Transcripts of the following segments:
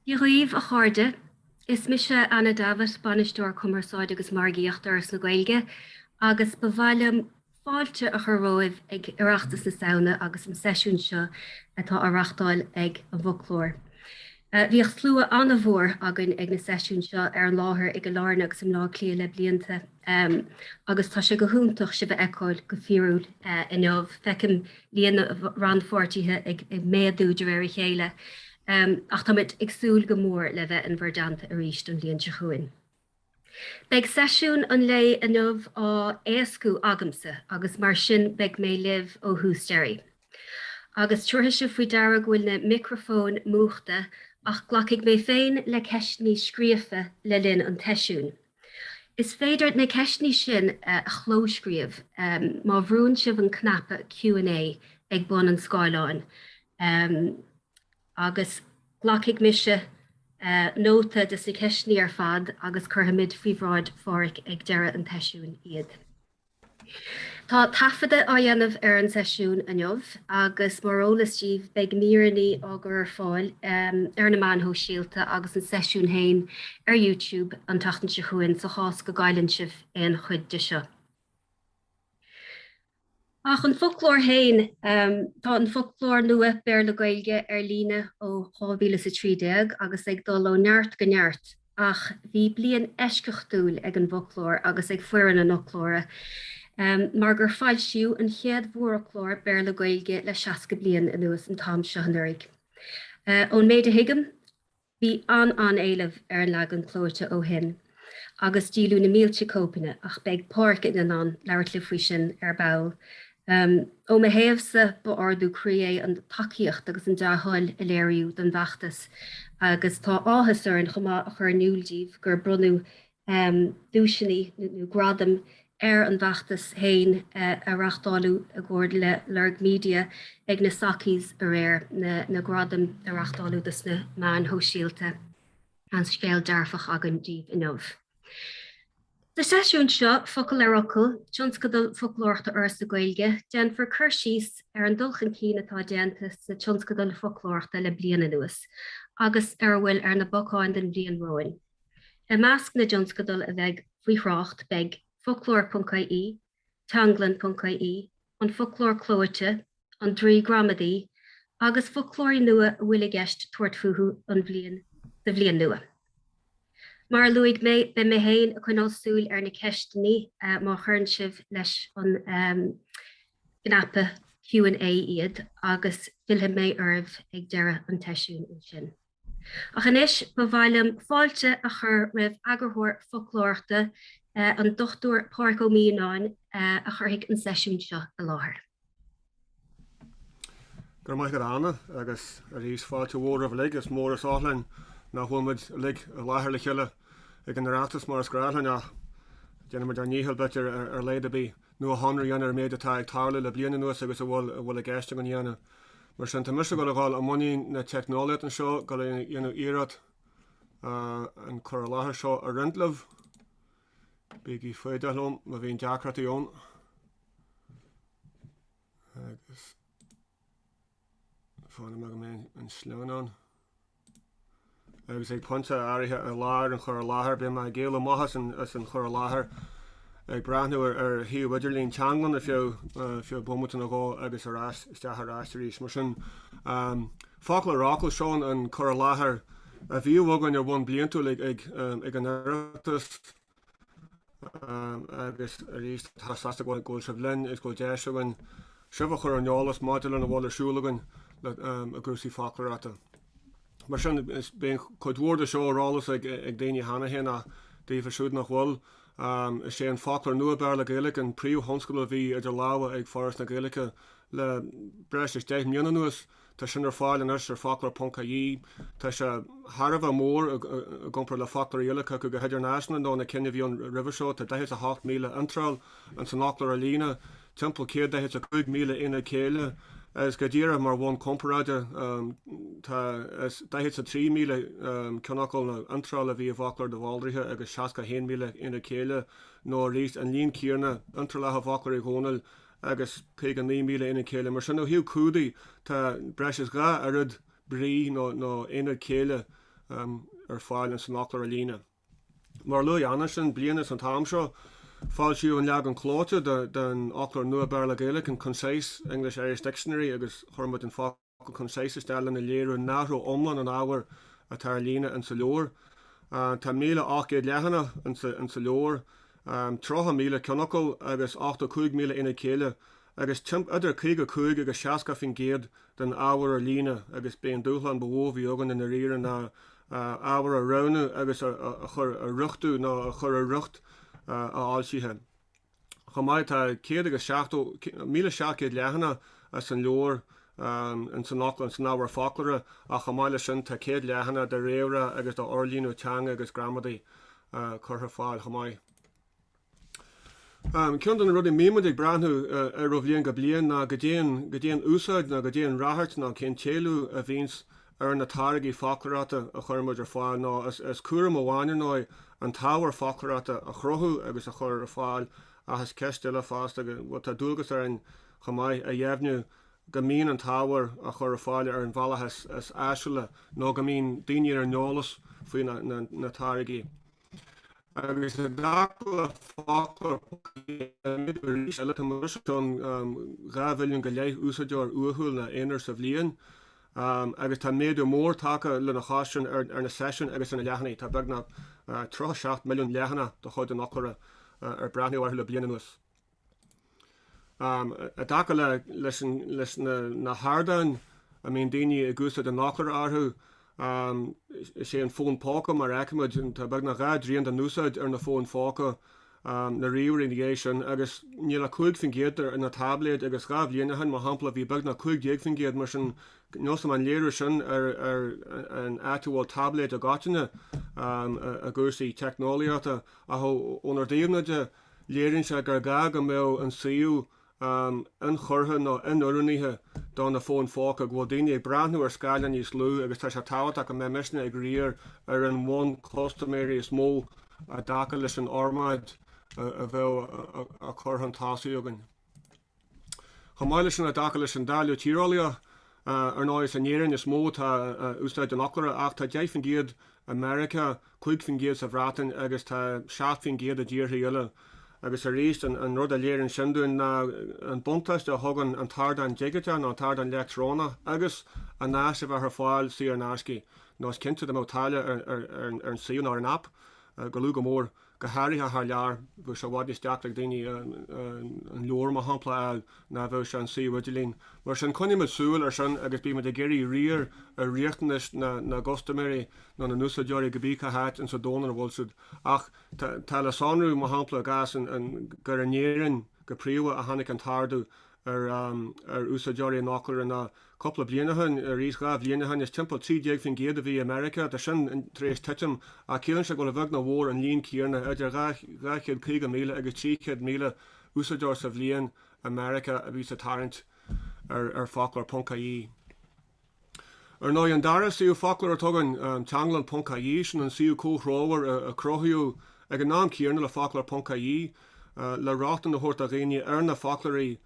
Dia dhaoibh, a chairde. Is mise Anna Davitt, Bainisteoir Cumarsáide agus Margaíochta Fhoras na Gaeilge, agus ba mhaith liom fáilte a chur romhaibh ag Oireachtas na Samhna agus an seisiún seo atá á reachtáil ag an bhFoclóir. Bhíodh slua an-mhór againn ag na seisiúin seo ar an láthair i gCill Airne agus i mBleá Cliath le blianta. Em, agus tá sé go hiontach sibh a fheiceáil go fíorúil, eh, inniu. Feicim líon na rannpháirtithe ag, ag méadú de réir a chéile. Em, ach táimid ag súil go mór le bheith in bhur dteannta arís an bhliain seo chugainn. Beidh seisiún an lae inniu á éascú agamsa agus mar sin beidh mé libh ó thús deireadh. Agus tabharfaidh sibh faoi deara go bhfuil na micreafóin múchta ach glacfaidh mé féin le ceisteannaí scríofa le linn an tseisiúin. Is féidir na ceisteanna sin a chlóscríobh má bhrúnn sibh an cnaipe Q and A ag bun an scáileáin agus glacfaidh mise nóta de na ceisteanna ar fad agus cuirfimid faoi bhráid Pháraic ag deireadh an tseisiúin iad. Tá taifeadadh á dhéanamh ar an seisiún inniu agus mar eolas díbh beidh míreanna á gcur ar fáil ar na meáin shóisialta agus an seisiún féin ar YouTube an tseachtain seo chugainn sa chás go gcailleann sibh aon chuid de seo. Ach an foclóir féin, tá an foclóir nua Béarla-Gaeilge ar líne ó 2013 agus ag dul ó neart go neart. ach bhí bliain eisceachtúil ag an bhfoclóir agus ag foireann an fhoclóra mar gur foilsíodh an chéad mhórfhoclóir Béarla-Gaeilge le 60 bliain anuas an t-am seo anuraidh. Ón méid a thuigim, bhí an-an-éileamh ar an leagan clóite ó shin agus díoladh na mílte cóipeanna ach beidh Páraic in ann labhairt libh faoi sin ar ball. Ó mo thaobhsa, ba ardú croí é an tacaíocht agus an dea-thoil a léiríodh don bhfeachtas agus tá áthas orainn chomh maith a chur in iúl daoibh gur bronnadh duaiseanna nó gradaim ar an bhfeachtas féin a reachtáladh i gcomhar le Lorg Media ag na Sockies aréir, na gradaim a reachtáladh do sna meáin shóisialta. An-scéal dearfach againn daoibh inniu. Sa seisiún seo, Focal ar Fhocal, Tionscadal Foclóireachta Fhoras na Gaeilge, déanfar cur síos ar an dul chun cinn atá déanta sna tionscadail foclóireachta le bliain anuas agus ar a bhfuil ar na bacáin don bhliain romhainn. I measc na dtionscadal a bheidh faoi thrácht beidh, Foclóir.ie, teanglann.ie, an foclóir clóite, an draoi gramadaí, agus foclóirí nua a bhfuil i gceist tabhairt fúthu an bhliain, sa bhliain nua. Mar a luaigh mé, beidh mé féin ag coinneáil súil ar na ceisteannaí má chuireann sibh leis an gcnaipe Q and A iad agus fillfidh mé oraibh ag deireadh an tseisiúin ansin. Ach anois ba mhaith liom fáilte a chur roimh eagarthóir foclóireachta, an Dr Pádraig Ó Mianáin, a chuirfidh an seisiún seo i láthair. Go raibh maith agat, Anna, agus arís fáilte mhór romhaibh uilig. Is mór is oth linn nach bhfuil muid uilig i láthair le chéile ag an Oireachtas mar is gnách linn ach déanfaidh muid ár ndícheall b'fhéidir ar a laghad ar bith nuashonrú a dhéanamh ar an mhéid atá ag tarlú le bliain anuas agus a bhfuil i gceist againn a dhéanamh. Mar sin, tá mise ag dul a dhul i mbun na teicneolaíochta anseo, dul a dhéanamh iarracht an cur i láthair seo a roinnt libh. Bígí foighdeach liom má bhíonn deacrachtaí ann. Agus fan anois go mbeidh an sleamhnán. agus ag pointe áirithe i lár an chur i láthair beidh mé ag éalú amach as an chur i láthair ag breathnú ar shuíomh idirlín Teanglann ar feadh feadh bomaite nó dhó agus ar ais isteach ar ais arís. Mar sin foclóireacht, seo an cur i láthair a bhíodh againn ar bhonn bliantúil ag an Oireachtas. agus arís is deas go bhfuil sibh linn is go bhfuil deis againn sibh a chur ar an eolas maidir lena bhfuil ar siúl againn i gcúrsaí foclóireachta. Mar sin, beidh cuid mhór de seo ar eolas ag daoine cheana féin ach daofa siúd nach bhfuil, is é an foclóir nua Béarla-Gaeilge an príomhthionscadal a bhí idir lámha ag Foras na Gaeilge le breis is deich mbliana anuas. Tá sin ar fáil anois ar foclóir.ie. Tá sé thar a bheith mór i gcomparáid le foclóirí eile, cé acu go hidirnáisiúnta, nó na cinn a bhí ann roimhe seo. Tá 48,000 iontráil ins an fhoclóir ar líne, timpeall 145,000 aonad céille, agus go díreach mar bhonn comparáide, 43,000 ceannfhocal nó iontráil a bhí i bhfoclóir de Bhaldraithe agus 61,000 aonad céille, nó arís, an líon céanna iontrálacha i bhfoclóir Uí Dhónaill agus 59,000 aonad céille. Mar sin, ó thaobh clúdaigh, tá breis is dhá oiread brí nó aonaid céille ar fáil ins an fhoclóir ar líne. Mar a luaigh Anna ansin, bliain is an t-am seo, foilsíodh an leagan clóite den Fhoclóir Nua Béarla-Gaeilge, an Concise English-Irish Dictionary agus chuir muid an focal go concise isteach lena léiriú nach raibh iomlán an ábhair atá ar líne insa leabhar. Tá 1,800 leathanach insa leabhar, 30,000 ceannfhocal agus 85,000 aonad céille agus timpeall idir 55 agus 60 faoin gcéad den ábhar ar líne agus b'é an dúshlán ba mhó a bhí againn i ndáiríre ná ábhar a roghnú agus a chur, a riochtú nó a chur i riocht a fhoilsithe. Chomh maith, tá céad agus seachtó, míle seacht gcéad, leathanach san leabhar, in san fhoclóir, in san ábhar foclóra ach chomh maith leis sin tá céad leathanach de réamhrá agus de fhorlíonadh teanga agus gramadaí curtha ar fáil chomh maith. Ceann de na rudaí a mbíonn muid ag breathnú air ó bhliain go bliain ná cad é an úsáid nó cad é an ráchairt nó cén t-éileamh a bhíonns ar na táirgí foclóireachta a chuir muid ar fáil nó is cúram amháin ar ndóigh an t-ábhar foclóireachta a chruthú agus a chur ar fáil ach is ceist eile fosta go bhfuil tá dualgas orainn chomh maith a dheimhniú go mbíonn an t-ábhar á chur ar fáil ar an bhealach is áisiúla nó go mbíonn daoine ar an eolas faoi na táirgí. agus i dtaca le foclóir arís eile, tá muid os cionn dhá mhilliún go leith úsáideoir uathúil nó aonair sa bhliain, agus tá méadú mór tagtha lena chois sin ar na seisiúin agus ar na leathanaigh, tá beagnach 37 milliún leathanach de chuid an fhoclóra ar breathnaíodh orthu le bliain anuas. I dtaca leis na hardáin a mbíonn daoine ag úsáid an fhoclóra orthu, is é an fón póca, mar a fheicimid, tá beagnach dhá dtrian den úsáid ar na fóin phóca, na ríomhairí ina dhiaidh sin, agus níl ach 5 faoin gcéad ar na táibléid agus dhá bhliain ó shin, mar shampla, bhí beagnach 15 faoin gcéad, mar sin is dócha gur léiriú sin ar an áit a bhfuil táibléid i gcoitinne i gcúrsaí teicneolaíochta, ach ónár dtaobhna de. Léiríonn sé gur gá go mbeadh an suíomh ionchurtha nó inoiriúnaithe do na fóin phóca, go bhfuil daoine ag breathnú ar scáileáin níos lú agus tá sé tábhachtach go mbeidh muidne ag riar ar an bhonn custaiméirí is mó i dtaca leis an fhormáid a bheadh á chur chun tosaigh againn. Chomh maith leis sin, i dtaca leis an dáileadh tíreolaíoch, ar ndóigh, is in Éirinn is mó atá úsáid an fhoclóra ach tá 10 faoin gcéad i Meiriceá, 5 faoin gcéad sa Bhreatain agus tá 7 faoin gcéad i dtíortha eile. Agus arís, an rud a léiríonn sin dúinn ná an buntáiste a thugann an t-ardán digiteach nó an t-ardán leictreonach agus an áis a bheith ar fáil saor in aisce, nó is cinnte dá mbeadh táille ar an suíomh nó ar an aip, gur lú go mór go háirithe thar lear, go bhfuil sé i bhfad níos deacra ag daoine an leabhar, mar shampla, a fháil ná a bheadh sé an suíomh idirlín. Mar sin, coinnímid súil air sin agus bímid ag iarraidh riar ar riachtanais na gcustaiméirí nó na n-úsáideoirí cibé cá háit in sa domhan ina bhfuil siad. Ach tá le sonrú, mar shampla, i gcás gur in Éirinn go príomha a tháinig an t-ardú, ar ar úsáideoirí an fhoclóra le cúpla bliain ó shin, arís dhá bhliain ó shin, is timpeall 13% a bhí i Meiriceá, tá sin tar éis titim, ach ciallaíonn sé go bhfuil a bheag nó a mhór an líon céanna, idir 250,000 agus 300,000 úsáideoir sa bhliain i Meiriceá a bhíos ag tarraingt ar ar foclóir ponc IE. Ar ndóigh, an dara suíomh foclóra atá againn Teanglann ponc-IE, sin an suíomh comhthreomhar a cruthaíodh ag an am céanna le foclóir ponc-IE le rochtain a thabhairt do dhaoine ar na foclóirí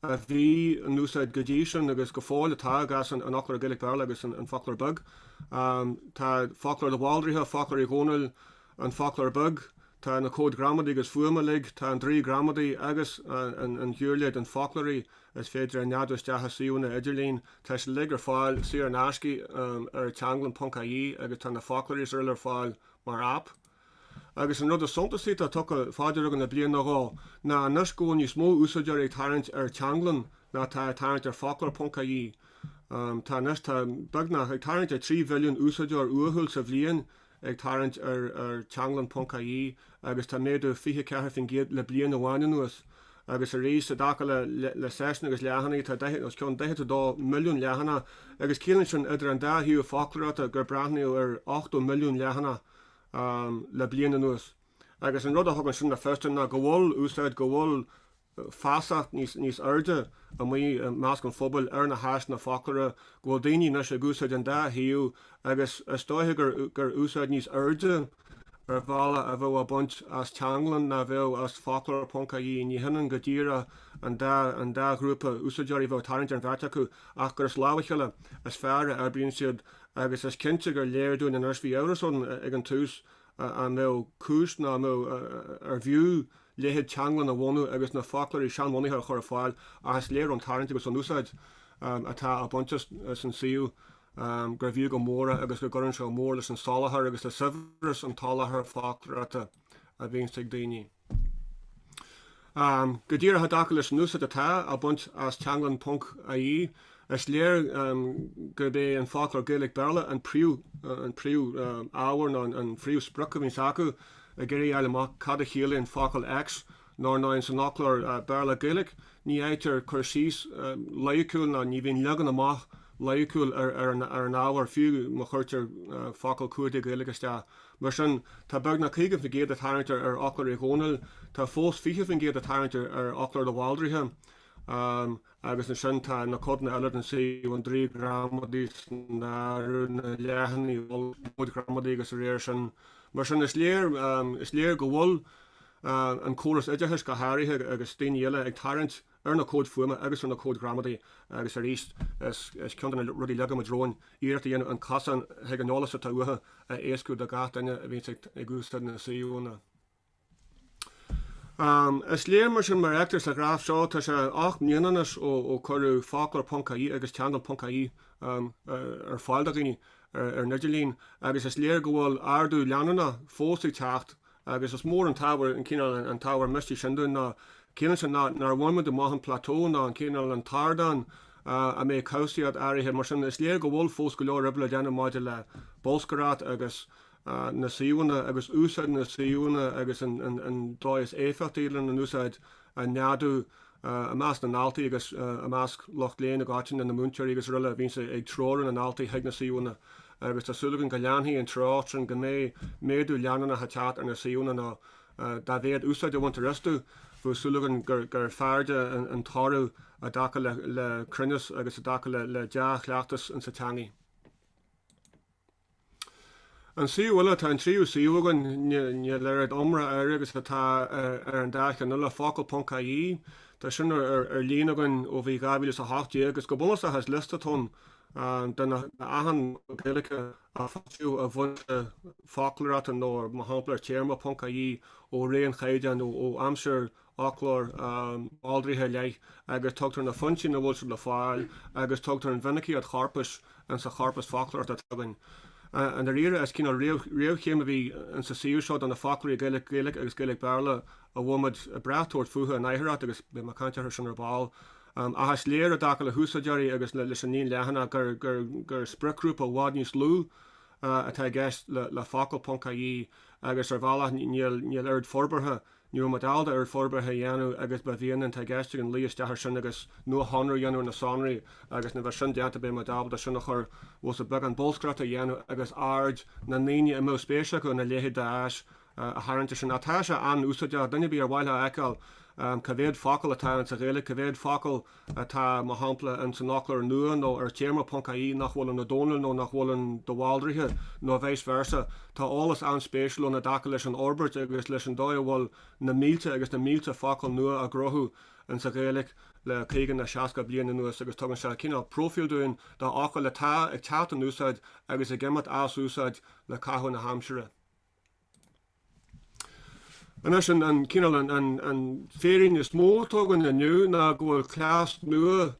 a bhí in úsáid go dtí sin agus go fóill atá i gcás an Fhoclóra Gaeilge-Béarla agus an Fhoclóra Bhig. Tá Foclóir de Bhaldraithe, Foclóir Uí Dhónaill, an Foclóir Beag, tá na comhaid ghramadaí agus fuaime uilig, tá an draoi gramadaí agus an ghiuirléid, an foclóir, Is féidir a neadú isteach i suíomhanna idirlín. Tá siad uilig ar fáil saor in aisce ar Teanglann ponc IE agus tá na foclóirí is uile ar fáil mar aip. Agus an rud is suntasaí atá tugtha fá deara againn le bliain nó dhó ná anois go bhfuil níos mó úsáideoirí ag tarraingt ar Teanglann ná atá ag tarraingt ar foclóir ponc IE. Tá anois, tá beagnach, ag tarraingt ar 3 mhilliún úsáideoir uathúil sa bhliain ag tarraingt ar Teanglann ponc IE agus tá méadú 24% le bliain amháin anuas agus arís i dtaca le seisiúin agus leathanaigh, tá os cionn 42 milliún leathanach agus ciallaíonn sin idir an dá shuíomh foclóireachta gur breathnaíodh ar 80 milliún leathanach le bliain anuas agus an rud a thugann sin le fios dúinn ná go bhfuil úsáid, go bhfuil. feasacht níos airde amuigh i measc an phobail ar na háiseanna foclóra, go bhfuil daoine anois ag úsáid an dá shuíomh agus is dóiche gur úsáid níos airde ar bhealach a bheadh á baint as Teanglann ná bheadh as Foclóir Ponc AE. Ní hionann go díreach an dá ghrúpa úsáideoirí a bheadh ag tarraingt ar an bheirt acu ach gur as lámha a chéile is fearr a oibríonn siad agus is cinnte gur léir dúinn anois, bhí amhras ann ag an tús, an raibh cúis nó arbh fhiú leithéid Teanglann a bhunú agus na foclóirí seanbhunaithe a chur ar fáil ach is léir ón tarraingt agus ón úsáid atá á baint as an suíomh gurbh fhiú go mór é agus go gcuireann sé go mór leis an soláthar agus le saibhreas an tsoláthair foclóireachta a bhíonns ag daoine. Go díreach i dtaca leis an úsáid atá á baint as Teanglann ponc IE, is léir gurb é an foclóir Gaeilge-Béarla an príomhábhar nó an phríomhsprioc a bhíonns acu ag iarraidh a fháil amach cad a chiallaíonn focal X nó ar ndóigh san fhoclóir Béarla-Gaeilge ní fhaightear cur síos loighiciúil nó ní bhíonn leagan amach loighiciúil ar an ábhar fiú má chuirtear focal cuardaigh Gaeilge isteach. Mar sin, tá beagnach 50% ag tarraingt ar fhoclóir Uí Dhónaill, tá fós 20% ag tarraingt ar fhoclóir de Bhaldraithe, agus ansin tá na codanna eile den suíomh, an draoi gramadaí san áireamh, na leathanaigh mhullaigh, na comhaid ghramadaí agus de réir sin. Mar sin, is léir, is léir go bhfuil an córas oideachais go háirithe agus daoine eile ag tarraingt, ar na cóid fuaime agus ar na cóid ghramadaí agus arís is ceann de na rudaí a leag muid romhainn iarracht a dhéanamh an cosán chuig an eolas atá uathu a éascú do gach duine a bhíonn ag úsáid na suíomhanna. Is léir mar sin mar a fheictear sa ghraf seo, tá sé ocht mbliana anois ó cuireadh Foclóir.ie agus Teanglann.ie ar fáil do dhaoine ar an idirlíon agus is léir go bhfuil ardú leanúnach fós ag teacht Agus is mór an t-ábhar an cineál an t-ábhar misnigh sin dúinn nó ciallaíonn sin nár bhain muid amach an plateau ná an cineál an t-ardán a mbeidh cobhsaíocht áirithe mar sin is léir go bhfuil fós go leor oibre le déanamh maidir le bolscaireacht agus na suíomhanna agus úsáid na suíomhanna agus an dóigh is éifeachtaí lena n-úsáid a neadú I measc na ndaltaí agus i measc lucht léinn i gcoitinne, na múinteoirí agus aroile, a bhíonns ag treorú na ndaltaí chuig na suíomhanna agus tá súil againn go leanfaidh an treocht sin, go mbeidh méadú leanúnach ag teacht ar na suíomhanna nó dá mhéad úsáid a bhaintear astu, bheadh súil againn gur fearrde an toradh i dtaca le cruinneas agus i dtaca le dea-chleachtas in sa teangaidh. An suíomh eile, Tá an tríú suíomh againn, níl a oiread iomrá air agus atá ar an dá cheann eile, Focal.ie, tá sin ar líne againn ó bhí 2018 agus go bunúsach is liosta atá ann de achan Gaeilge a foilsíodh i bhfoinse foclóireachta nó mar shampla ar Téarma.ie ó ré an Chaighdeáin ó aimsir fhoclóir Bhaldraithe i leith agus tugtar na foinsí ina bhfuil siad le fáil agus tugtar an mhinicíocht chorpais in sa chorpas foclóireachta atá againn. I ndáiríre, is cineál réamhchéim a bhí in sa suíomh seo do na foclóirí Gaeilge-Gaeilge agus Gaeilge-Béarla a bhfuil muid ag brath tabhairt fúthu in aicearracht agus beidh mé ag caint air sin ar ball. Ach is léir i dtaca le húsáideoirí agus leis an líon leathanach gur spriocghrúpa i bhfad níos lú atá i gceist le Focal.ie, agus ar bhealach níl oiread forbartha Ní raibh muid ábalta oiread forbartha a dhéanamh agus ba mhian linn tá i gceist againn luí isteach air sin agus nuashonrú a dhéanamh ar na sonraí agus nuair a bheas sin déanta beidh muid ábalta sin a chur os a beagán bolscaireachta a dhéanamh agus aird na ndaoine a mbeadh spéis acu ina leithéid d'áis a tharraingt air sin ach tá sé an-úsáideach duine ar bith ar mhaith leo a fheiceáil cé mhéad focal atá ann sa Ghaeilge cé mhéad focal atá, mar shampla, in san fhoclóir nua nó ar Téarma.ie nach bhfuil in Ó Dónaill nó nach bhfuil in de Bhaldraithe nó vice versa. Tá eolas an-spéisiúil ann i dtaca leis an fhorbairt agus leis an dóigh a bhfuil na mílte agus na mílte focal nua á gcruthú in sa Ghaeilge le caoga nó seasca bliain anuas agus tugann sé cineál próifíl dúinn d'fhocail atá ag teacht in úsáid agus ag imeacht as úsáid le caitheamh na haimsire. Anois, an cineál an féirín is mó atá againn inniu ná go bhfuil cleas nua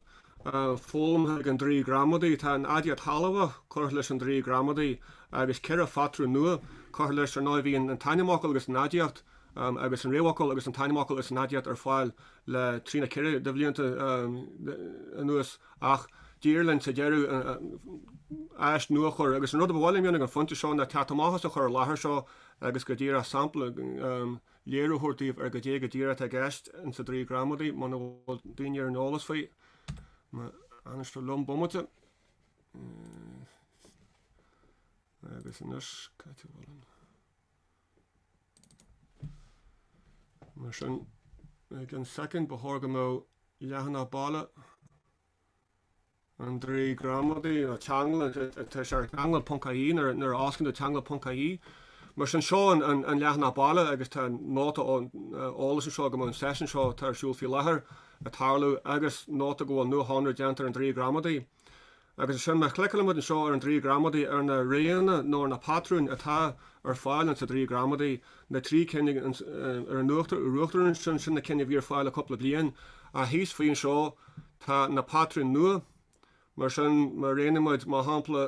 foghlamtha ag an Draoi Gramadaí. Tá an aidiacht shealbhach curtha leis an Draoi Gramadaí agus ceithre phatrún nua curtha leis, ar ndóigh. Bhí an t-ainmfhocal agus an aidiacht agus an réamhfhocal agus an t-ainmfhocal agus an aidiacht ar fáil le trí nó ceithre de bhlianta anuas, ach d'éirigh linn sa deireadh an áis nua a chur agus an rud a ba mhaith liom dhéanamh ag an phointe seo ná teacht amach as an chur i láthair seo agus go díreach sampla, léiriú a thabhairt daoibh ar goidé go díreach atá i gceist sa Draoi Gramadaí, muna bhfuil daoine ar an eolas faoi. Má fhanas tú liom bomaite. Agus anois, cad tú bhfuil an? Mar sin, ag an soicind ba chóir go mbeadh leathanach baile an draoi gramadaí nó teanglann tá sé ar teanglann ponc-IE nuair a fhosclann tú teanglann ponc-IE. Mar sin, seo an leathanach baile agus tá nóta eolais anseo go mbeidh an seisiún seo atá ar siúl faoi láthair ag tarlú agus nóta go bhfuil nuashonrú déanta ar an draoi gramadaí. Agus ansin má chliceálann muid anseo ar an draoi gramadaí ar na roghanna nó ar na patrúin atá ar fáil ins an draoi gramadaí, na trí cinn ag an ar an uachtar ansin, sin na cinn a bhí ar fáil le cúpla bliain, ach thíos faoi anseo tá na patrúin nua, mar sin, má roghnaíonn muid, mar shampla,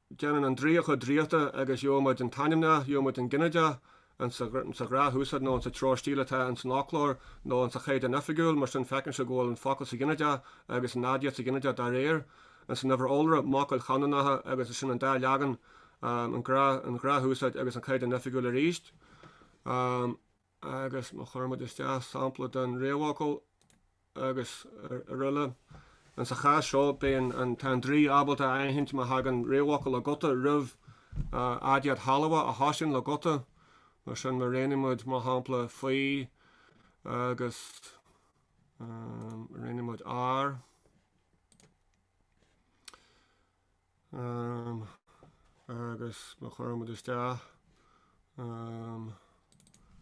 déanann an draoi a chuid draíochta agus gheobhaimid an t-ainmneach, gheobhaimid an ginideach, ins an ghnáthúsáid nó ins an treoir stíle atá ins an fhoclóir nó ins an Chaighdeán Oifigiúil, mar sin feiceann sibh go bhfuil an focal sa ghinideach agus an aidiacht sa ghinideach dá réir, ins an uimhir iolra, m'fhocail chanúnacha, agus is sin an dá leagan, an ghnáthúsáid agus an Chaighdeán Oifigiúil arís. agus má chuireann muid isteach sampla den réamhfhocal agus aroile, ins an chás seo beidh an tá an draoi ábalta a aithint má thagann réamhfhocal le guta roimh aidiacht shealbhach a thosaíonn le guta, mar sin má roghnaíonn muid, mar shampla, faoi agus roghnaíonn muid ár. um, agus má chuireann muid isteach um,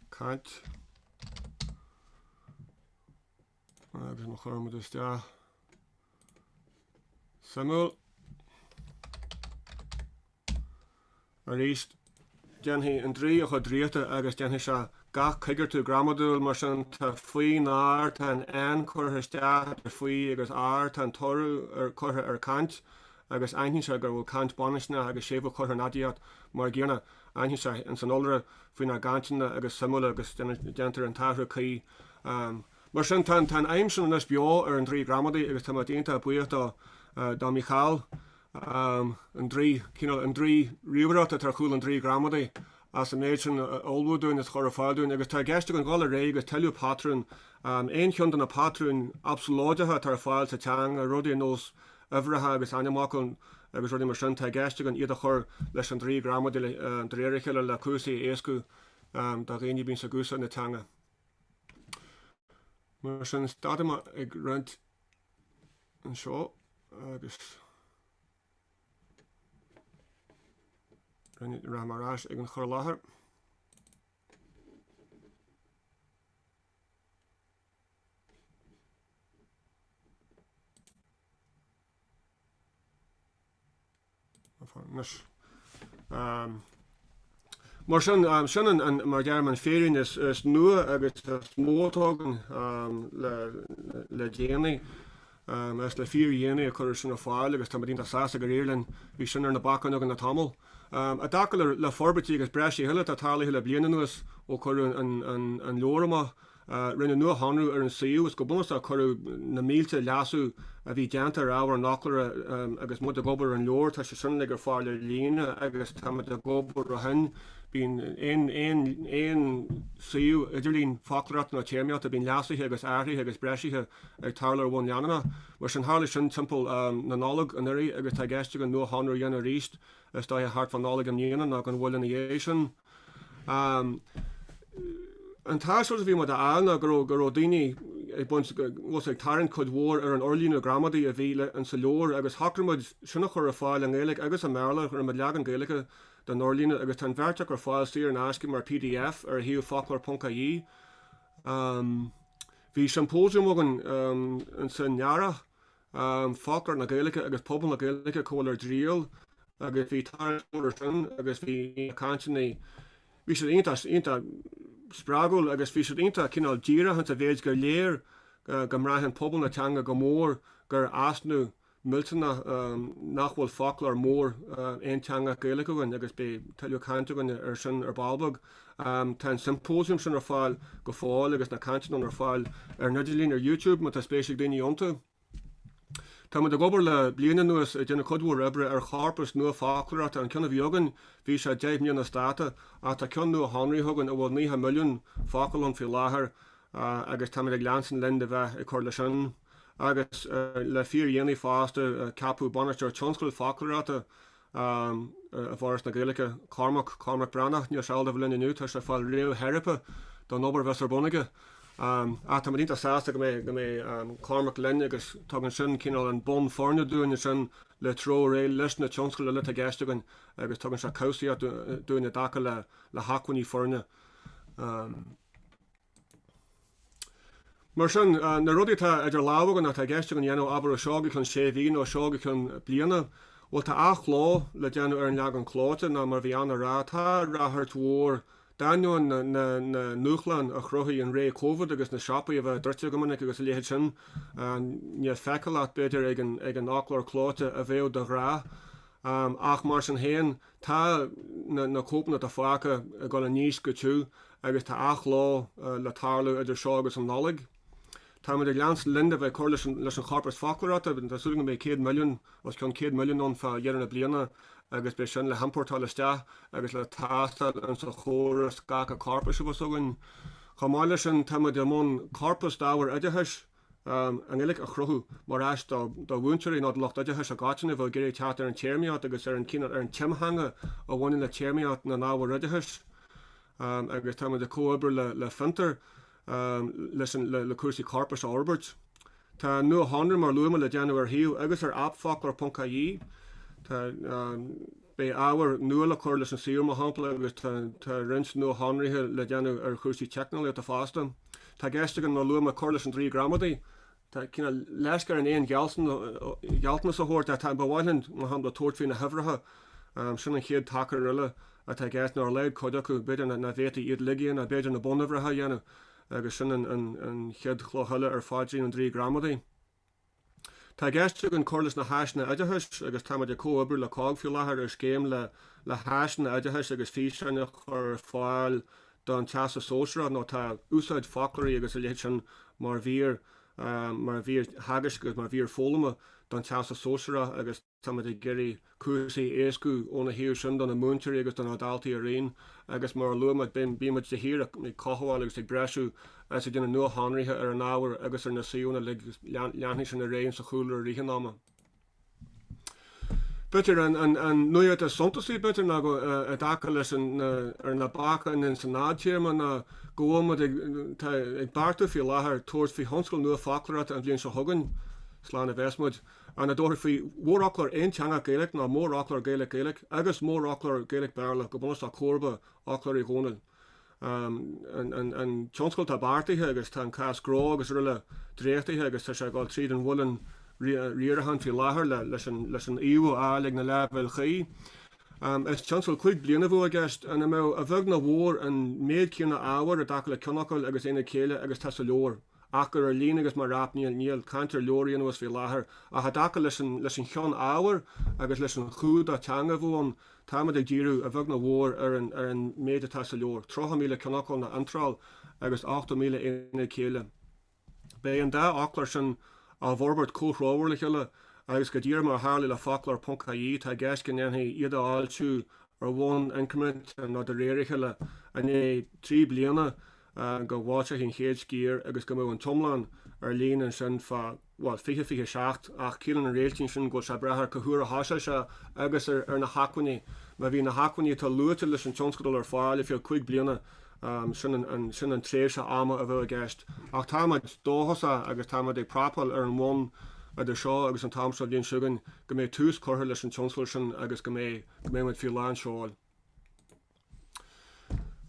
caint agus má chuireann muid isteach suimiúil Arís, déanfaidh an draoi a chuid draíochta agus déanfaidh sé gach coigeartú gramadúil, mar sin tá faoinár tá an N curtha isteach idir faoi agus ár tá an t-urú curtha ar caint agus aithníonn sé go bhfuil caint baininscneach agus séimhiú curtha ar an aidiacht mar an gcéanna aithníonn sé in san iolra faoinár gcainteanna agus suimiúla agus déantar an t-athrú cuí um mar sin tá an fheidhm sin anois beo ar an draoi gramadaí agus tá mé iontach buíoch do do Michal an draoi, cineál an draoi ríomhaireachta atá ar chúl an draoi gramadaí, as an méid sin a ullmhú dúinn is a chur ar fáil dúinn. Agus tá i gceist againn dul ar aghaidh agus tuilleadh patrún, aon cheann de na patrúin absalóideacha atá ar fáil sa teanga, rudaí ar nós uimhreacha agus ainmfhocail agus rudaí mar sin, tá i gceist againn iad a chur leis an draoi gramadaí de réir a chéile le cúrsaí a éascú do dhaoine a bhíonns ag úsáid na teanga. Mar sin, stadfaidh mé ag roinnt. anseo agus rinne ra mar as ag an chur láthair. Mar sin, sin mar a deirim an féirín is nua agus is mó atá againn le déanaí is le fíordhéanaí a chur ar fáil agus táimid iontach sásta gur éirigh linn, bhí sin ar na bacáin againn le tamall. I dtaca le forbairtí agus breisithe eile atá tarlaithe le bliain anuas ó cuireadh an leabhar amach, a rinneadh nuashonrú ar an suíomh, is go bunúsach cuireadh na mílte leasú a bhí déanta ar ábhar an fhoclóra agus muid ag obair ar an leabhar, tá sé sin uilig ar fáil ar líne agus táimid ag obair ó shin. Bíonn aon suíomh idirlín foclóireachta nó téarmaíochta, bíonn leasuithe agus athruithe agus breisithe ag tarlú ar bhonn leanúnach. Mar sin, tharla sin timpeall na Nollag anuraidh agus tá i gceist againn nuashonrú a dhéanamh arís is dóiche thart fá Nollaig i mbliana nó gan mhoill ina dhiaidh sin. An t-aiseolas a bhí muid a fháil ná go raibh go raibh daoine ag baint go bhfuil sé ag tarraingt cuid mhór ar an fhorlíonadh gramadaí a bhí sa leabhar agus shocraigh muid sin a chur ar fáil i nGaeilge agus i mBéarla chuir muid leagan Gaeilge den fhorlíonadh agus tá an bheirt acu ar fáil saor in aisce mar pdf ar shuíomh foclor.ie. Bhí siompóisiam againn san earrach em Foclóir na Gaeilge agus Pobal na Gaeilge, Cá bhfuil ár dTriall, agus bhí tarraingt mhór ar sin agus bhí na cainteanna, bhí siad iontach, iontach spreagúil agus bhí siad iontach cineál díreach ins a mhéid gur léir go mbraitheann pobal na teanga go mór gur easnamh millteanach nach bhfuil foclóir mór aonteangach Gaeilge againn agus beidh tuilleadh cainte againn ar sin ar ball beag. Tá an siompósiam sin ar fáil go fóill agus na cainteanna ar fáil ar an idirlíon ar YouTube má tá spéis ag daoine iontu. Táimid ag obair le bliain anuas ag déanamh cuid mhór oibre ar chorpas nua foclóireachta, an ceann a bhí againn, bhí sé deich mbliana as dáta, ach tá ceann nuashonraithe againn a bhfuil 90 milliún focal ann faoi láthair agus táimid ag leanstan linn de bheith ag cur leis sin. Agus le fíordhéanaí fosta ceapadh Bainisteoir Tionscadail Foclóireachta, i bhForas na Gaeilge, Cormac, Cormac Breathnach, níl sé ábalta a bheith linn inniu, tá sé ag fáil réamhtheiripe don obair a bheas ar bun aige. Ach tá muid iontach sásta go mbeidh go mbeidh Cormac linn agus tugann sin cineál an bonn foirne dúinn ansin le treabhadh ar aghaidh leis na tionscail eile atá i gceist againn agus tugann sé cobhsaíocht dúinn i dtaca le hacmhainní foirne. Mar sin, na rudaí atá idir lámha againn, atá i gceist againn a dhéanamh, abair ó seo go ceann sé mhí nó ó seo go ceann bliana, bhuel tá athchló le déanamh ar an leagan clóite nó mar a bhí Anna a rá. Tá ráchairt mhór, d'ainneoin na ndúshlán a chruthaigh an ré Covid agus na siopaí a bheith druidte go minic agus a leithéid sin, níl feiceálacht b'fhéidir ag an fhoclóir clóite a bheadh de ghnáth ach mar sin féin, Tá na cóipeanna atá fágtha ag dul i ndísc go tiubh agus tá athchló le tarlú idir seo agus an Nollaig. Táimid ag leanstan linn de bheith ag cur leis an chorpas foclóireachta, tá súil againn go mbeidh 100 milliún, os cionn 100 milliún ann fá dheireadh na bliana agus beidh sin le hiompórtáil isteach agus le tástáil insa chóras scagtha corpais abhus againn. Chomh maith leis sin, táimid i mbun corpas d'ábhar oideachais a i nGaeilge a chruthú mar áis do mhúinteoirí nó do lucht oideachais i gcoitinne a bheadh ag iarraidh teacht ar an téarmaíocht agus ar an timtheanga a bhaineann le téarmaíocht na n-ábhar oideachais agus táimid ag comhoibriú le Fiontar leis le cúrsaí corpais a fhorbairt. Tá nuashonrú, mar a luaigh mé, le déanamh ar shuíomh agus ar aip Foclóir.ie. Tá. Beidh ábhar nua le cur leis an suíomh, mar shampla, agus tá roinnt nuashonruithe le déanamh ar chúrsaí teicneolaíochta fosta. Tá i gceist againn, mar a luaigh mé, cur leis an Draoi Gramadaí, cineál leisce orainn aon ghealltanas a thabhairt ach ba mhaith linn, mar shampla, tabhairt faoi na huimhreacha, sin an chéad tacar eile atá i gceist, nó ar a laghad cuid acu, b'fhéidir nach bhféadfaí iad uilig a dhéanamh ach b'fhéidir na bunuimhreacha a dhéanamh agus sin an chéad chloch eile ar phaidrín an Draoi Gramadaí. Tá i gceist againn cur leis na háiseanna oideachais, agus táimid ag comhoibriú le COGG faoi láthair ar scéim le háiseanna oideachais agus físeáin a chur ar fáil don Teastas Sóisearach nó tá úsáid foclóirí agus a leithéid sin mar mhír theagaisc agus mar mhír foghlama don Teastas Sóisearach agus Táimid ag iarraidh cúrsaí a éascú óna thaobh sin do na múinteoirí agus do na daltaí araon agus mar a luaigh mé bímid de shíor ag cothabháil agus ag breisiú agus ag déanamh nuashonruithe ar an ábhar agus ar na suíomhanna uilig, leanfaidh sin ar aghaidh sa chúlra i rith an ama. B'fhéidir, an nuaíocht is suntasaí, b'fhéidir, ná go, i dtaca leis an, ar na bacáin insan fhadtéarma ná go bhfuilimid ag beartú faoi láthair tabhairt faoi thionscal nua foclóireachta an bhliain seo chugainn, slán a bheas muid. ag tabhairt faoi mhórfhoclóir aonteangach Gaeilge nó mórfhoclóir Gaeilge-Gaeilge agus mórfhoclóir Gaeilge-Béarla go bunúsach comharba fhoclóir Uí Dhónaill an tionscadal atá beartaithe agus tá an cás gnó agus aroile dréachtaithe agus tá sé ag dul tríd an mhuileann riaracháin faoi láthair leis an fhaomhadh a fháil ag na leibhéil chuí. Is tionscadal cúig bliana a bheadh i gceist ina mbeadh, a bheag nó a mhór, an méid céanna ábhair i dtaca le ceannfhocail agus aonaid céille agus atá sa leabhar. ach gur ar líne agus mar aip níl níl caint ar leabhar a dhéanamh as faoi láthair ach i dtaca leis an leis an chineál ábhair agus leis an chumhdach teanga a bheadh ann táimid ag díriú a bheag nó a mhór ar an ar an méid atá sa leabhar 30,000 ceannfhocal nó iontráil agus 80,000 aonad céille beidh an dá fhoclóir sin á bhforbairt comhthreomhar le chéile agus go díreach mar a tharla le foclóir ponc IE tá i gceist go ndéanfaí iad a fhoilsiú ar bhonn incriminteach nó de réir a chéile i ndiaidh trí bliana go bhfoilseofaí an chéad sciar agus go mbeadh an t-iomlán ar líne ansin fá, bhuel, 2027, ach ciallaíonn an réiltín sin go bhfuil sé ag brath ar cé huair a thosós sé agus ar na hacmhainní, má bhíonn na hacmhainní atá luaite leis an tionscadal ar fáil ar feadh cúig bliana, sin an tréimhse ama a bheadh i gceist. Ach táimid dóchasach agus táimid ag prapáil ar an bhonn idir seo agus an t-am seo an bhliain chugainn go mbeidh tús curtha leis an tionscadal sin agus go mbeidh, go mbeimid faoi lán seoil.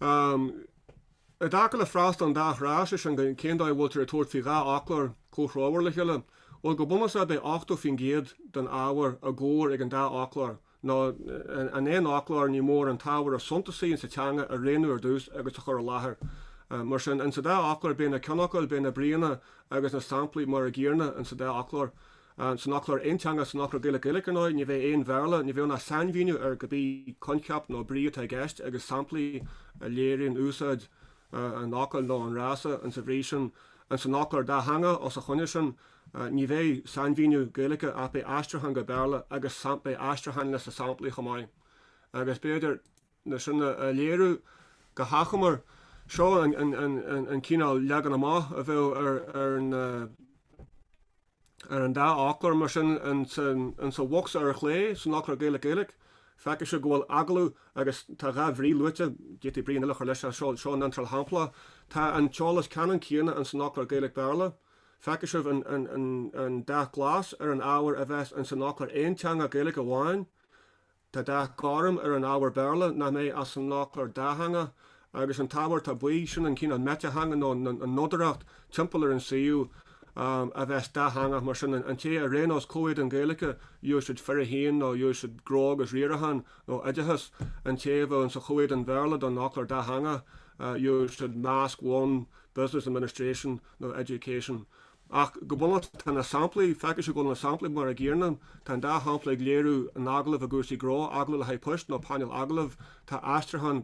I dtaca le freastal an dá thrá, sé sin, cén dóigh a bhfuiltear ag tabhairt faoi dhá fhoclóir comhthreomhar le chéile, bhuel, go bunúsach beidh 80% den ábhar i gcomhar ag an dá fhoclóir, nó in aon fhoclóir, ní mór an t-ábhar is suntasaí sa teanga a roghnú ar dtús agus a chur i láthair. Mar sin, in sa dá fhoclóir, beidh na ceannfhocail, beidh na bríonna agus na samplaí mar an gcéanna in sa dá fhoclóir. San fhoclóir aonteangach san fhoclóir Gaeilge-Gaeilge ar ndóigh, ní bheidh aon Bhéarla, ní bheidh ná sainmhíniú ar goidé coincheap nó brí atá i gceist agus samplaí a léiríonn úsáid an fhocail nó an fhrása insa bhrí sin. Insan fhoclóir dátheangach os a choinne sin, ní bheidh sainmhíniú Gaeilge ach beidh aistriúchán go Béarla agus beidh aistriúcháin leis na samplaí chomh maith. Agus b'fhéidir le sin a léiriú go hachomair, seo an cineál leagan amach a bheadh ar na. Ar an dá fhoclóir, mar sin, in sa bhocsa ar chlé, san fhoclóir Gaeilge-Gaeilge, feicfidh sibh go bhfuil agallamh agus tá dhá bhrí luaite, d'fhéadfadh brí eile a chur leis seo, seo an iontráil shamplach, tá an t-eolas ceannann céanna in san fhoclóir Gaeilge-Béarla, feicfidh sibh an an dath glas ar an ábhar a bheas in san fhoclóir aonteangach Gaeilge amháin, Tá dath gorm ar an ábhar Béarla nach mbeidh ach san fhoclóir dátheangach agus an t-ábhar atá buí, sin an cineál meititheanga nó an nodaireacht timpeall ar an suíomh a bheas dátheangach, mar sin, an té a roghnós comhéadan Gaeilge úsáid fir a haon nó úsáid, Gnó agus Riarachán nó Oideachas, an té a roghnós comhéadan Béarla don Fhoclóir Dátheangach Usage, Masc, One, Business Administration nó Education. Ach go bunúsach, tá na samplaí, feictear go bhfuil na samplaí mar an gcéanna, tá an dá shampla ag léiriú an agallaimh i gcúrsaí gnó, agallamh le haghaidh poist nó painéal agallaimh, tá aistriúchán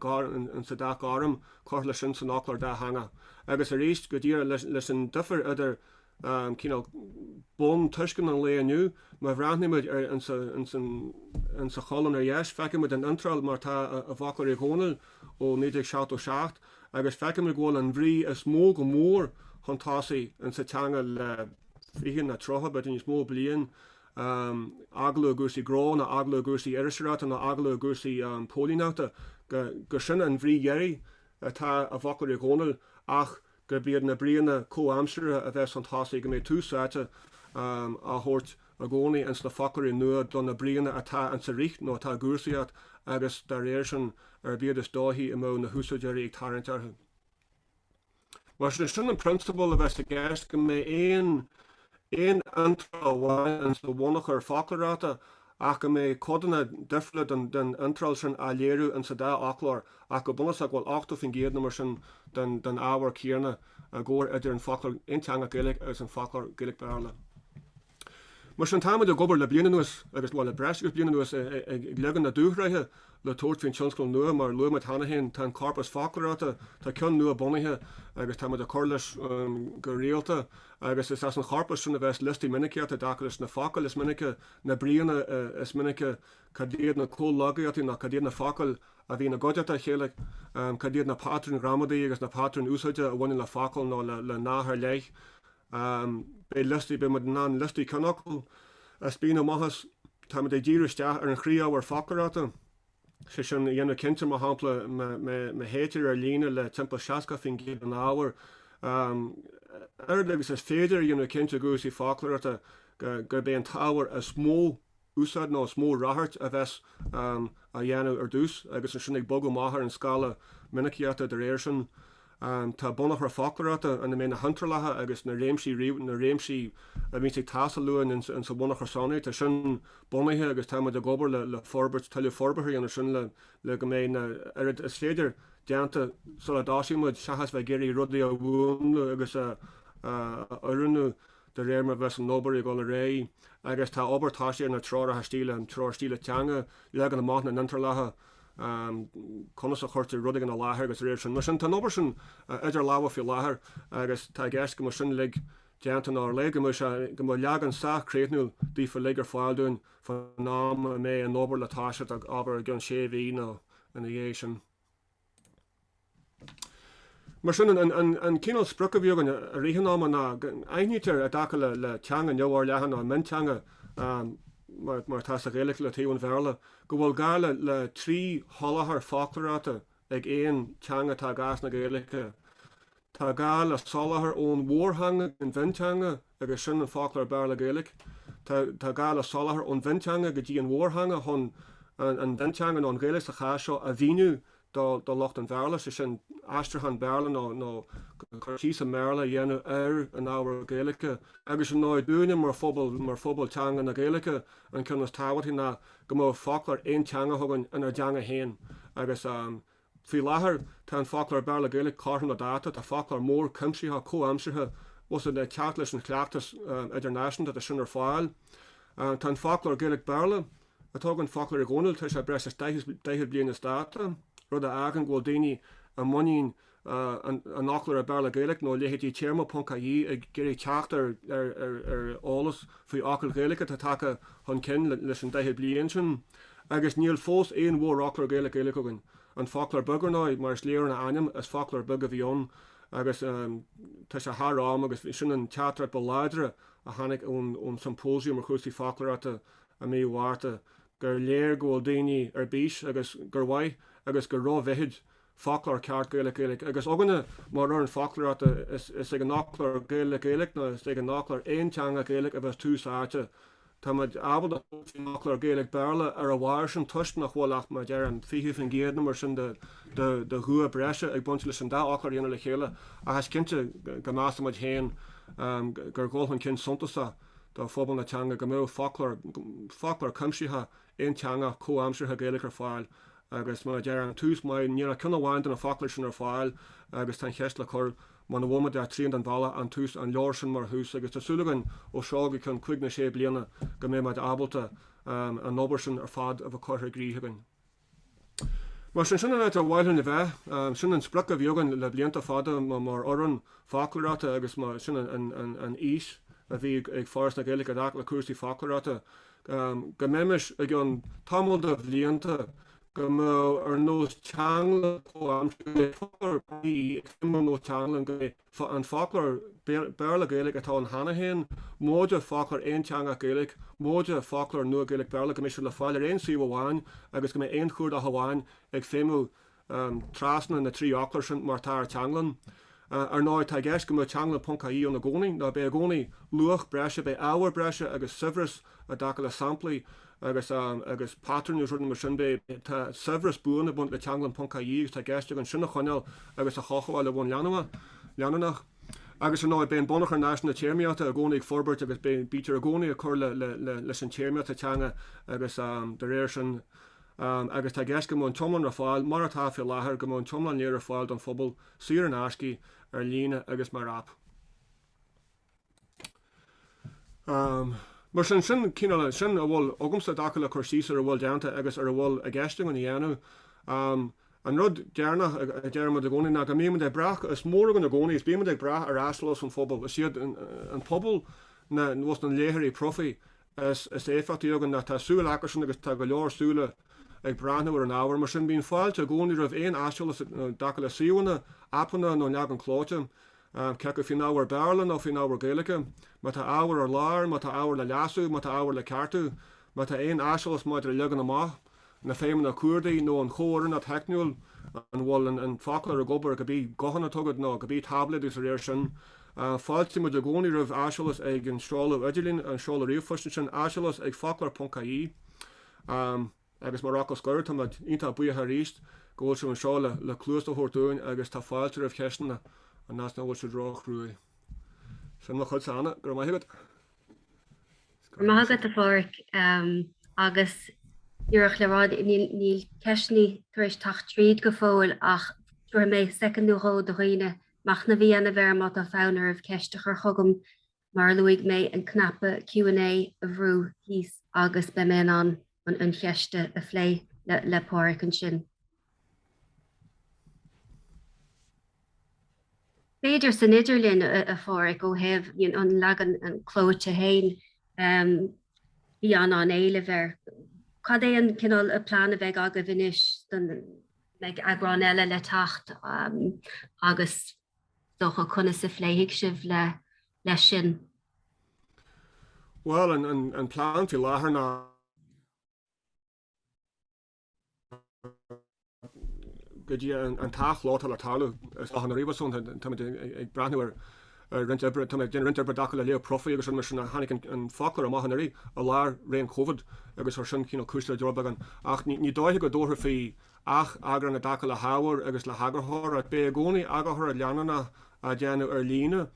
insa dá ghairm curtha leis sin san fhoclóir dátheangach. Agus arís, go dtí leis an difear idir cineál bun tuiscint an lae inniu, má bhreathnaímid ar insa cholún ar dheis, feicimid an iontráil mar atá i bhfoclóir Uí Dhónaill ó 1977, agus feicimid go bhfuil an bhrí is mó go mór chun tosaigh sa teanga le fiche ná tríocha, b'fhéidir níos mó, bliain, agallamh i gcúrsaí gnó ná agallamh i gcúrsaí iriseoireachta ná agallamh i gcúrsaí póilíneachta, gur sin an bhrí dheiridh atá i bhfoclóir Uí Dhónaill ach gurb iad na bríonna comhaimseartha a bheas chun tosaigh, go mbeidh tús áite á thabhairt i gcónaí ins na foclóirí nua do na bríonna atá insa rith nó atá i gcúrsaíocht agus, dá réir sin, arb iad is dóichí a mbeadh na húsáideoirí ag tarraingt orthu. Mar sé sin an prionsabal a bheas i gceist, go mbeidh aon aon iontráil amháin insa bhunachar foclóireachta ach go mbeidh codanna difriúla den den iontráil sin á léiriú ins an dá fhoclóir, ach go bunúsach go bhfuil 80 faoin gcéad nó mar sin den ábhar céanna i gcomhar idir an foclóir aonteangach Gaeilge agus an foclóir Gaeilge-Béarla. Mar sin táimid ag obair le bliain anuas agus, bhuel le breis agus bliain anuas, ag leagan na dúshraithe le tabhairt faoin tionscadal nua. Mar a luaigh mé cheana féin tá an corpas foclóireachta, tá ceann nua bunaithe agus táimid ag cur leis go rialta agus is as an chorpas sin a bheas liostaí minicíochta i dtaca leis na focail is minice, na bríonna is minice, cad iad na comhlogaíochtaí nó cad iad na focail a bhíonn i gcuideachta a chéile, cad iad na patrúin ghramadaí agus na patrúin úsáide a bhaineann le focal nó le nath ar leith. Beidh liostaí, beidh muid in ann liostaí ceannfhocal a spíonadh amach as, táimid ag díriú isteach ar an chroí-ábhar foclóireachta, sé sin a dhéanamh cinnte, mar shampla, má théitear ar líne le timpeall 60% den ábhar, a oiread agus is féidir, a dhéanamh cinnte i gcúrsaí foclóireachta gurb é an t-ábhar is mó, úsáid nó is mó radhairc a bheas á dhéanamh ar dtús agus ansin ag bogadh amach ar an scála minicíochta de réir sin. Tá bunachar foclóireachta ina mbeidh na hiontrálacha agus na réimsí na réimsí a bhíonns ag teastáil uainn insa bhunachar sonraí. Tá sin bunaithe agus táimid ag obair le forbairt tuilleadh forbartha a dhéanamh sin le go mbeidh a oiread is féidir déanta sula dtosaímid seachas bheith ag iarraidh rudaí a mhúnlú agus a oiriúnú de réir mar a bheas an obair ag dul ar aghaidh agus tá obair tosaithe ar na treoracha stíle, an treoir stíle teanga, leagan amach na n-iontrálacha, conas a chuirtear rudaí ina láthair agus dá réir sin mar sin. Tá an obair sin idir lámha faoi láthair agus tá i gceist go mbeadh sin uilig déanta ná ar a laghad, go mbeadh sé, go mbeadh leagan sách críochnúil daofa uilig ar fáil dúinn faoin am a mbeidh an obair le toiseacht, abair, i gceann sé mhí nó ina dhiaidh sin. Mar sin, an cineál sprioc a bhí againn i rith an ama ná aithnítear i dtaca le teanga neamhfhorleathan nó mionteanga, mar atá sa Ghaeilge le taobh an Bhéarla, go bhfuil gá le trí sholáthar foclóireachta ag aon teanga atá i gcás na Gaeilge. Tá gá le soláthar ón mhórtheanga go dtí an mhionteanga agus sin an Foclóir Béarla-Gaeilge. Tá gá le soláthar ón mhionteanga go dtí an mhórtheanga chun an mhionteanga, nó an Ghaeilge sa chás seo, a mhíniú do lucht an Bhéarla, sé sin, aistriúchán Béarla nó cur síos i mBéarla a dhéanamh ar an ábhar Gaeilge. Agus ar ndóigh, dúinne mar phobal teanga na Gaeilge, an ceann is tábhachtaí ná go mbeadh foclóir aonteangach againn inár dteanga féin agus Faoi láthair, tá an foclóir Béarla-Gaeilge cothrom le dáta, tá foclóir mór cuimsitheach comhaimseartha agus é ag teacht leis an chleachtas idirnáisiúnta, tá sin ar fáil. Tá an foclóir Gaeilge-Béarla, atá againn, Foclóir Uí Dhónaill, tá sé breis is daichead bliain as dáta, rud a fhágann go bhfuil daoine i muinín an fhoclóra Béarla-Gaeilge nó a leithéidí, Téarma ponc ie, ag iarraidh teacht ar eolas faoi fhocail Ghaeilge atá tagtha chun cinn leis an daichead bliain sin. Agus níl fós aon mhórfhoclóir Gaeilge-Gaeilge againn. An Foclóir Beag, ar ndóigh, mar is léir ón ainm, is foclóir beag a bhí ann agus tá sé thar am agus sin an teachtaireacht ba láidre a tháinig ón Siompóisiam ar Chúrsaí Foclóireachta i mí Mhárta, gur léir go bhfuil daoine ar bís agus gur mhaith agus gur ró-mhithid foclóir ceart Gaeilge-Gaeilge, agus againne mar fhoireann foclóireachta, is ag an fhoclóir Gaeilge-Gaeilge nó is ag an fhoclóir aonteangach Gaeilge a bheas tús áite. Tá muid ábalta tabhairt faoin fhoclóir Gaeilge-Béarla ar a bharr sin toisc nach bhfuil ach, mar a deirim, 20% nó mar sin de dhua breise ag baint leis an dá fhoclóir a dhéanamh le chéile, ach is cinnte go measaimid féin gur dhul chun cinn suntasach do phobal na teanga go mbeadh foclóir cuimsitheach, aonteangach comhaimseartha Gaeilge ar fáil agus mar a deir an tús maith, níl ach ceann amháin de na foclóirí sin ar fáil agus tá an cheist le cur muna bhfuil muid ach trian den bhealach an tús an leor sin mar thús agus tá súil againn ó seo go ceann cúig nó sé bliana go mbeidh muid ábalta an obair sin ar fad a bheith curtha i gcrích againn. Mar sin, sin an áit ar mhaith linn a bheith. Sin an sprioc a bhí againn le blianta fada mar fhoireann foclóireachta agus sin an fhís a bhí ag Foras na Gaeilge i dtaca le cúrsaí foclóireachta, go mbeimis, i gceann tamall de bhlianta, go mbeadh ar nós Teanglann comhaimseartha, go mbeadh foclóir ponc ie ag feidhmiú ar nós Teanglann. An foclóir Béarla-Gaeilge atá ann cheana féin, móide foclóir aonteangach Gaeilge, móide foclóir nua Gaeilge-Béarla go mbeidh siad sin le fáil ar aon suíomh amháin agus go mbeidh aon chuardach amháin ag feidhmiú trasna na dtrí fhoclóir sin mar atá ar Teanglann. Ar ndóigh tá i gceist go mbeadh Teanglann ponc ie ann i gcónaí, nó beidh i gcónaí luach breise, beidh ábhar breise agus saibhreas I dtaca le samplaí agus agus patrúin den sórt sin de, tá saibhreas buan ag baint le teanglann.ie agus tá i gceist againn sin a choinneáil agus a chothabháil ar bhonn leanúnach. Agus, ar ndóigh, beidh an bunachar náisiúnta téarmaíochta i gcónaí ag forbairt agus bítear i gcónaí ag cur le leis an téarmaíocht sa teanga agus, dá réir sin, agus tá i gceist go mbeidh an t-iomlán ar fáil, mar atá faoi láthair, go mbeidh an t-iomlán léir ar fáil don phobal, saor in aisce, ar líne agus mar aip. Mar sin, sin cineál, sin a bhfuil agamsa i dtaca le cur síos ar a bhfuil déanta agus ar a bhfuil i gceist againn a dhéanamh. An rud deireanach a deirimid i gcónaí ná go mbímid ag brath, is mór againn i gcónaí, is bímid ag brath ar aiseolas an phobail. Is iad an pobal, na, bhuel, na léitheoirí profaí is is éifeachtaí againn ná tá súil acusan agus tá go leor súile ag breathnú ar an ábhar. Mar sin, bíonn fáilte i gcónaí roimh aon aiseolas i dtaca le suíomhanna, aipeanna nó leagan clóite, cé acu faoin ábhar Béarla nó faoin ábhar Gaeilge, má tá ábhar ar lár, má tá ábhar le leasú, má tá ábhar le ceartú, má tá aon aiseolas maidir le leagan amach. na feidhmeanna cuardaigh nó an chomhoiriúnacht theicniúil an bhfuil an foclóir ag obair, cibé guthán atá agat nó cibé táibléad agus dá réir sin. Fáiltímid i gcónaí roimh aiseolas ag an seoladh idirlín, an seoladh ríomhphoist ansin, aiseolas ag foclóir.ie agus mar fhocal scoir táimid iontach buíoch arís go bhfuil sibh anseo le cluas a thabhairt dúinn agus tá fáilte roimh cheisteanna, an fhad is nach bhfuil siad róchruaidh. Sin mo chuidse, Anna, go raibh maith agat. Go raibh maith agat a Phádraig agus díreach le rá níl ceisteanna tar éis teacht tríd go fóill ach tabharfaidh mé soicind nó dhó do dhaoine machnamh a dhéanamh air má tá fonn oraibh ceist a chur chugam mar a luaigh mé an cnaipe Q&A a bhrú thíos agus beidh mé in ann an cheist a phlé le Pádraig ansin. B'fhéidir san idirlinn a Phádraig ó thaobh an leagan clóite féin bhí an an-éileamh air. Cad é an cineál a plean a bheidh agaibh anois an mbeidh eagrán eile le teacht agus is dócha conas a phléifidh sibh le leis sin? Bhuel an plean faoi láthair ná go dtí an t-athchló atá le tarlú i Slógadh na Ríomhearsúnta, táimid ag breathnú ar, ag déanamh roinnt oibre i dtaca le léamh profaí agus rud mar sin, tháinig an foclóir amach anuraidh i lár ré an Covid agus ar sin cineál cúis le deoir beagán ach ní dóiche go dtabharfar faoi atheagrán i dtaca le hábhar agus le heagarthóireacht, beidh i gcónaí eagarthóireacht leanúnach á déanamh ar líne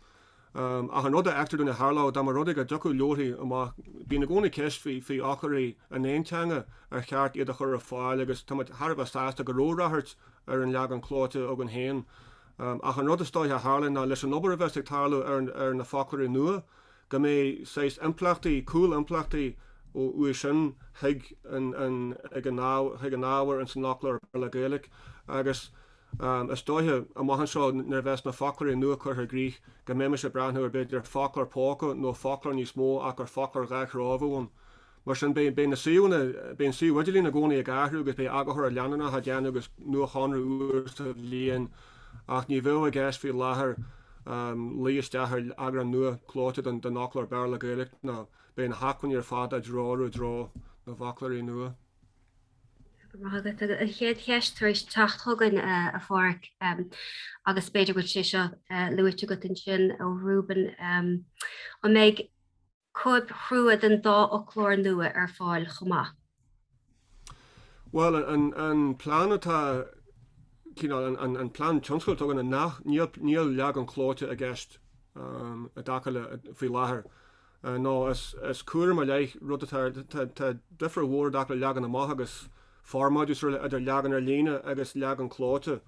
Ach an rud a fheictear dúinn a tharlódh, dá mba rud é go dtiocfadh leabharthaí amach, bíonn i gcónaí ceist faoi fhoclóirí in aon teanga, ar cheart iad a chur ar fáil agus táimid thar a bheith sásta go raibh ráchairt ar an leagan clóite againn féin. Ach an rud is dóiche a tharla ná leis an obair a bheas ag tarlú ar na foclóirí nua go mbeidh saghas impleachtaí, cúl-impleachtaí uaidh sin chuig an ábhar ins an fhoclóir Béarla-Gaeilge agus Is dóiche, amach anseo, nuair a bheas na foclóirí nua curtha i gcrích, go mbeimis ag breathnú ar b'fhéidir foclóir póca nó foclóir níos mó ach gur foclóir dhá threo a bheadh ann. Mar sin, beidh na suíomhanna, beidh an suíomh idirlín i gcónaí ag athrú agus beidh eagarthóireacht leanúnach á déanamh agus nuashonrú uair sa bhliain ach ní bheadh i gceist faoi láthair luí isteach ar eagrán nua clóite den fhoclóir Béarla-Gaeilge nó beidh na hacmhainní ar fad á dtreorú i dtreo na bhfoclóirí nua. Go raibh maith agat. An chéad cheist tar éis teacht chugainn, a Phádraig, agus b'fhéidir go bhfuil sé seo luaite agat ansin ó Reuben, an mbeidh cóip chrua den dá fhoclóir nua ar fáil chomh maith? Bhuel, an plean atá, an plean tionscadail atá againn, nach, níl leagan clóite i gceist i dtaca le, faoi láthair. a nó is cúram ar leith rud atá Tá difear mhór i dtaca le leagan amach agus formáidiú is araile idir leagan ar líne agus leagan clóite.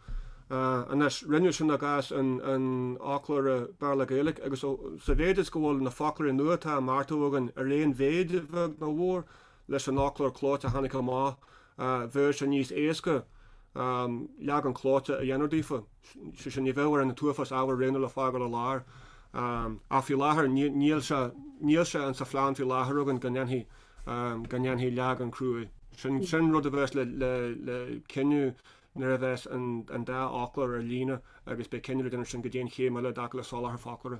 Anois, rinneadh sin i gcás an fhoclóra Béarla-Gaeilge agus, sa mhéid is go bhfuil na foclóirí nua atá á mbeartú againn ar aon mhéid, a bheag nó a mhór, leis an fhoclóir clóite a tháinig amach bheadh sé níos éasca leagan clóite a dhéanamh daofa, sé sin ní bheadh orainn an t-uafás ábhar a roghnú le fágáil ar lár. Ach faoi láthair níl sé níl sé an sa phlean faoi láthair againn go ndéanfaí go ndéanfaí leagan cruaidh. Sin sin rud a bheas le le le cinneadh nuair a bheas an an dá fhoclóir ar líne agus beidh cinneadh le déanamh ansin cad é an chéim eile i dtaca le soláthar foclóra.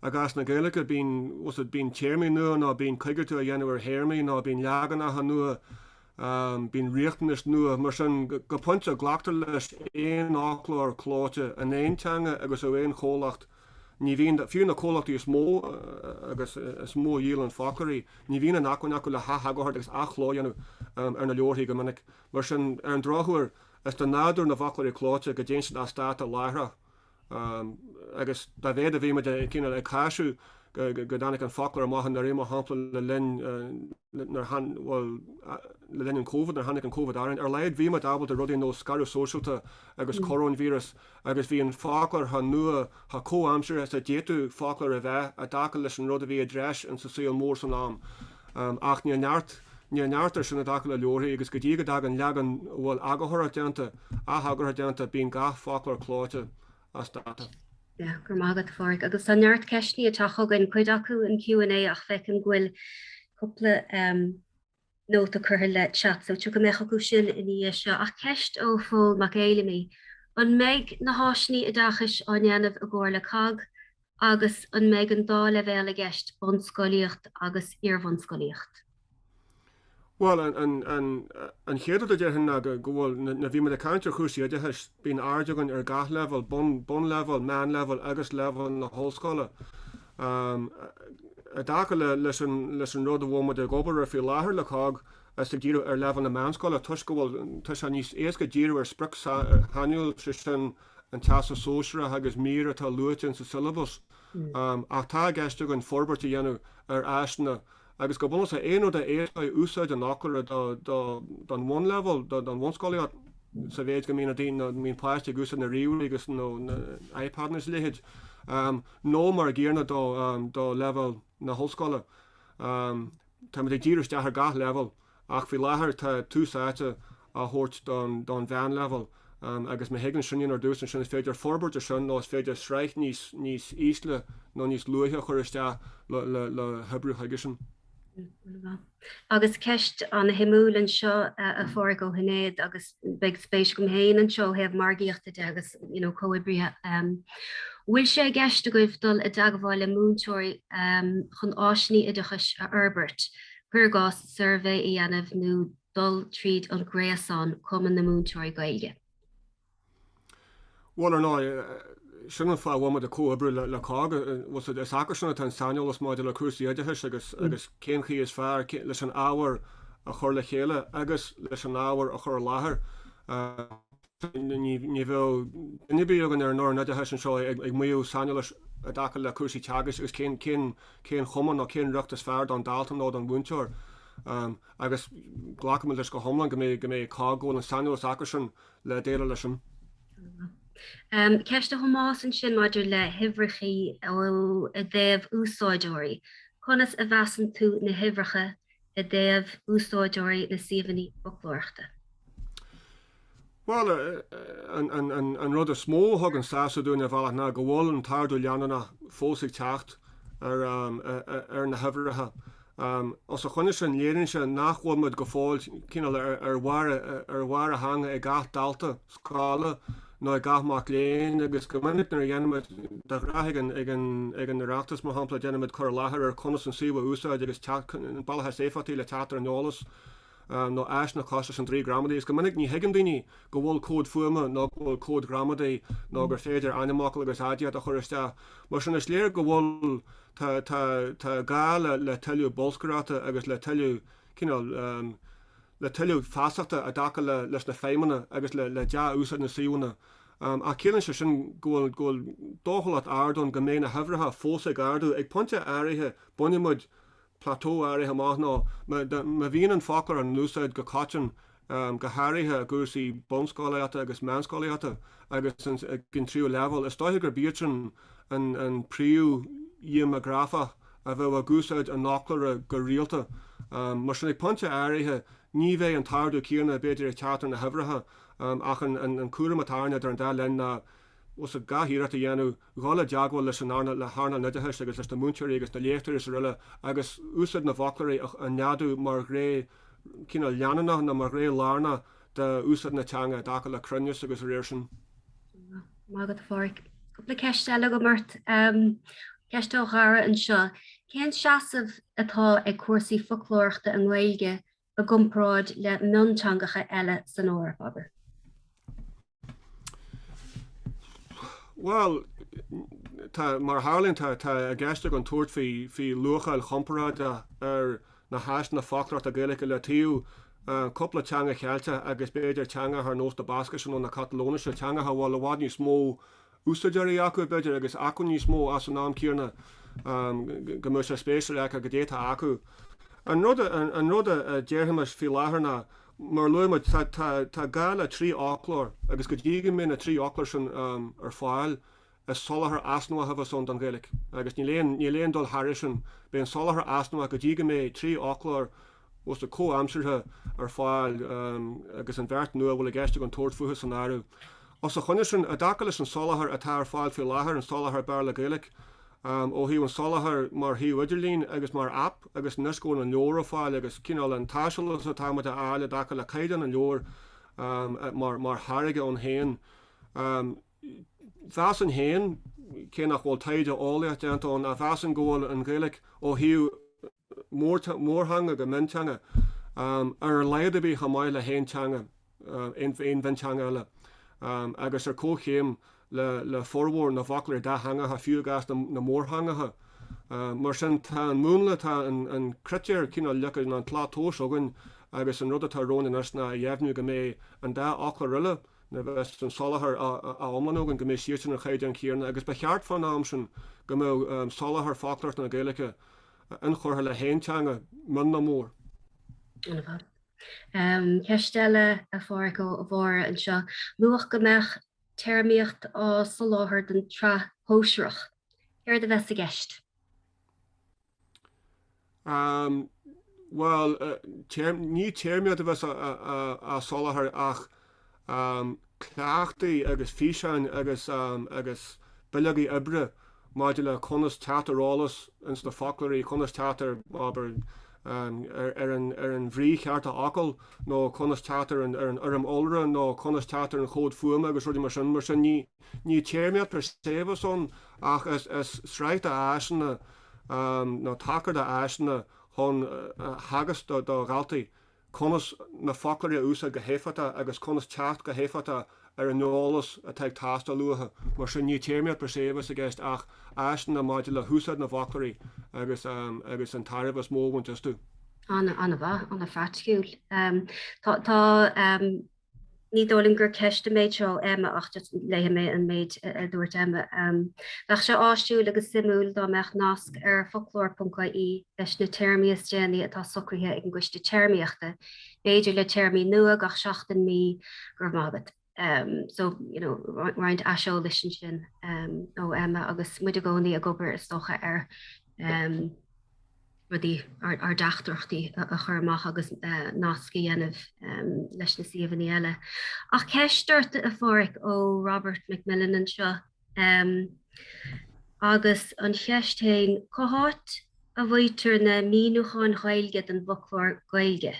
I gcás na Gaeilge, bíonn, bhuel, bíonn téarmaí nua nó bíonn coigeartú á dhéanamh ar théarmaí nó bíonn leaganacha nua, bíonn riachtanais nua. Mar sin, go pointe, glactar leis aon fhoclóir clóite in aon teanga agus ó aon chomhlacht, ní bhíonn, fiú na comhlachtaí is mó agus is mó a dhíolann foclóirí, ní bhíonn an acmhainn acu le hatheagar agus ath-chló a dhéanamh ar na leabharthaí go minic. Mar sin, ar an drochuair, is de nádúr na bhfoclóirí clóite go dtéann siad as dáta láithreach. agus dá mhéad a bhí muid ag cíonaíl, ag cáiseamh go dtáinig an foclóir amach anuraidh mar shampla le linn, nuair a, bhuel, le linn an Covid, nuair a tháinig an Covid orainn, ar a laghad bhí muid ábalta rudaí ar nós scaradh sóisialta agus coróinvíreas agus bhí an foclóir chomh nua, chomh comhaimseartha is a d'fhéadfadh foclóir a bheith i dtaca leis an rud a bhí i dtreis in sa saol mór san am. ach níl neart, níl neart ar sin i dtaca le leabharthaí agus go dtí go dtagann leagan a bhfuil eagarthóireacht déanta, atheagarthóireacht déanta, bíonn gach foclóir clóite as dáta. Yeah, go raibh maith agat a Phádraig. Agus tá neart ceisteanna tagtha chugainn, cuid acu in Q and A ach feicim go bhfuil cúpla nóta curtha le chat so tiocfaimid chucu sin ina dhiaidh seo. Ach ceist ó Phól Mac Fheidhlimidh, An mbeidh na háiseanna oideachais á ndéanamh i gcomhar le cogg agus an mbeidh an dá leibhéal i gceist, bunscolaíocht agus iarbhunscolaíocht? Bhuel, an, an, an, an chéad rud a déarfainn ná go, go bhfuil, nuair, nuair a bhí muid ag caint ar chúrsaí oideachais, bíonn aird againn ar gach leibhéal, bun, bunleibhéal, meánleibhéal agus leibhéal na hollscoile. Um, I dtaca le, leis an, leis an rud a bhfuil muid ag obair air faoi láthair le cogg, is ag díriú ar leibhéal na meánscoile toisc go bhfuil, tá sé níos éasca díriú ar sprioc shainiúil, sé sin, an Teastas Sóisearach agus mír atá luaite insa siollabas, ach tá i gceist againn forbairt a dhéanamh ar áiseanna agus go bunúsach aon rud a éascóidh úsáid an fhoclóra don bhunleibhéal, don bhunscolaíocht sa mhéid go mbíonn daoine nó bíonn páistí ag úsáid na ríomhairí agus nó na iPadanna is a leithéid nó mar an gcéanna do leibhéal na hollscoile. Táimid ag díriú isteach ar gach leibhéal ach faoi láthair tá tús áite á thabhairt don mheánleibhéal agus má thagann sin ar dtús ansin is féidir forbairt ar sin nó is féidir sraith níos níos ísle nó níos luaithe a chur isteach le hoibriú chuige sin. Agus ceist an-suimiúil anseo a Phádraig ó Shinéad agus beidh spéis agam féin anseo ó thaobh margaíochta de agus you know comhoibrithe. Bhfuil sé i gceist agaibh dul i dteagmháil le múinteoirí chun áiseanna oideachais a fhorbairt cuir i gcás, suirbhé a dhéanamh nó dul tríd an ngréasán Cumann na Múinteoirí Gaeilge. Bhuel, ar ndóigh, sin an fáth a bhfuil muid ag comhoibriú le cogg. Is acusan atá an saineolas maidir le cúrsaí oideachais agus cén chaoi is fearr leis an ábhar a chur le chéile agus leis an ábhar a chur i láthair. Ní bheadh duine ar bith againn ar an fhoireann oideachais anseo ag maíomh saineolais i dtaca le cúrsaí teagaisc agus cén chuma nó cén riocht is fearr don dalta nó don mhúinteoir agus glacaimid leis go hiomlán go mbeidh COGG, go bhfuil an saineolas acusan le déileáil leis sin. Ceist do Thomás ansin maidir le huimhreacha i dtaobh úsáideoirí. Conas a mheasann tú na huimhreacha i dtaobh úsáideoirí na suíomhanna foclóireachta. Bhuel, an rud is mó a thugann sásamh dúinn ar bhealach ná go bhfuil an t-ardú leanúnach fós ag teacht ar na huimhreacha. Os a choinne sin, léiríonn sé nach bhfuil muid go fóill cineál ar bharr a theanga ag gach dalta scála ná ag gach mac léinn agus go minic nuair a dhéanaimid, de ghnáth ag an Oireachtas mar shampla, déanaimid cur i láthair ar conas an suíomh a úsáid agus bealaí is éifeachtaí le teacht ar an eolas nó áiseanna cosúil leis an Draoi Gramadaí is go minic ní thuigeann daoine go bhfuil comhad fuaime nó go bhfuil comhad gramadaí nó gur féidir ainmfhocal agus aidiacht a chur isteach. Mar sin is léir go bhfuil tá gá le tuilleadh bolscaireachta agus le tuilleadh cineál le tuilleadh feasachta i dtaca leis na feidhmeanna agus le dea-úsáid na suíomhanna, ach ciallaíonn sé sin go bhfuil dóchúlacht ard ann go mbeidh na huimhreacha fós ag ardú. Ag pointe áirithe bainfidh muid plateau áirithe amach nó má bhíonn an foclóir in úsáid go coiteann, go háirithe i gcúrsaí bunscolaíochta agus meánscolaíochta agus ag an tríú leibhéal, is dóiche gurb iadsan an príomhdhéimeagrafach. a bheadh ag úsáid an fhoclóra go rialta. Mar sin, ag pointe áirithe, ní bheidh an t-ardú céanna, b'fhéidir, ag teacht ar na huimhreacha ach an cúram atá orainne idir an dá linn ná gach iarracht a dhéanamh dhul i dteagmháil leis an earnáil oideachais agus leis na múinteoirí agus na léachtóirí is araile agus úsáid na bhfoclóirí a neadú mar ghné cineál leanúnach nó mar ghné lárnach d'úsáid na teanga i dtaca le cruinneas agus, dá réir sin. Maith agat a Phádraic. Cúpla ceist eile agam ort. Ceist ó Dhara anseo. Cén seasamh atá ag cúrsaí foclóireachta i nGaeilge i gcomparáid le mionteangacha eile san Eoraip, abair? Bhuel, mar a tharlaíonn, tá i gceist againn tabhairt faoi luacháil chomparáideach ar na háiseanna foclóireachta Gaeilge le taobh cúpla teanga Cheilteach agus b'fhéidir teangacha ar nós na Bascaise nó na Catalóinise, teangacha a bhfuil i bhfad níos mó úsáideoirí acu, b'fhéidir, agus acmhainn níos mó ach san am céanna go mbeadh sé spéisiúil a fheiceáil cad é atá acu. An rud an rud a déarfaimis faoi láthair ná, mar a luaigh muid, tá tá tá gá le trí fhoclóir agus go dtí go mbeidh na trí fhoclóir sin ar fáil Is soláthar easnamhach atá ann don Ghaeilge agus níl aon níl aon dul thairis sin. Beidh an soláthar easnamhach go dtí go mbeidh trí fhoclóir uasdátaithe comhaimseartha ar fáil agus an bheirt nua a bhfuil i gceist againn tabhairt fúthu san áireamh. Os a choinne sin, i dtaca leis an soláthar atá ar fáil faoi láthair, an foclóir Béarla-Gaeilge, ó thaobh an soláthar mar shuíomh idirlín agus mar aip agus anois go bhfuil an leabhar ar fáil agus cineál an t-aiseolas atáimid a fháil i dtaca le caighdeán an leabhair mar tháirge ann féin, mheasfainn féin, cé nach bhfuil taighde eolaíoch déanta againn, ach mheasfainn go bhfuil an Ghaeilge, ó thaobh mórtheanga go mionteanga, ar a laghad ar bith chomh maith le haon teanga, aon mhionteanga eile, agus ar comhchéim le formhór na bhfoclóirí dátheangacha, fiú i gcás na mórtheangacha. Mar sin, tá an múnla, tá an critéar cineál leagtha, nó an tslat tomhais againn agus an rud atá romhainn anois ná a dheimhniú go mbeidh an dá fhoclóir eile, nuair a bheas an soláthar á iomlánú againn go mbeidh siad sin ar an chaighdeán chéanna, agus ba cheart, fán am sin, go mbeadh soláthar foclóireachta na Gaeilge inchurtha le haon teanga, mion nó mór. Ceist eile, a Phádraig, ó Mháire anseo. Luadh go mbeadh téarmaíocht á soláthar don tsraith shóisearach. Céard a bheas i gceist? Bhuel, ní téarmaíocht a bheas á soláthar ach cleachtaí agus físeáin agus bileogaí oibre maidir le conas teacht ar eolas ins na foclóirí, conas teacht ar, abair, ar an bhrí cheart de fhocal nó conas teacht ar an fhoirm iolra nó conas teacht ar an chomhad fuaime agus rudaí mar sin. Ní téarmaíocht per se a bheas ann ach is sraith d'áiseanna nó tacar d'áiseanna chun a theagasc do dhaltaí conas na foclóirí a úsáid go héifeachtach agus conas teacht go héifeachtach ar an eolas atá ag teastáil uathu. Mar sin, ní téarmaíocht per se a bheas i gceist ach áiseanna maidir le húsáid na bhfoclóirí agus an tairbhe is mó a bhaint astu. An-mhaith, an-phraiticiúil. Tá. ní dóigh liom gur ceist an méid seo ó Emma ach just léifidh mé an méid a dúirt Emma. Bheadh sé áisiúil agus suimiúil dá mbeadh nasc ar foclóir.ie leis na téarmaí is déanaí atá socraithe ag an gCoiste Téarmaíochta, b'fhéidir le téarmaí nua gach seachtain, mí, go raibh maith agat. So, you know, roinnt aiseolais ansin ó Emma agus muid i gcónaí ag obair is dócha ar. rudaí, ár dteachtaireachtaí a chur amach agus nasc a dhéanamh leis na suíomhanna eile. Ach ceist ort a Pháraic ó Robert McMillen anseo agus an cheist fhéin, cá háit a bhfaightear na míniúcháin Ghaeilge don bhfoclóir Gaeilge,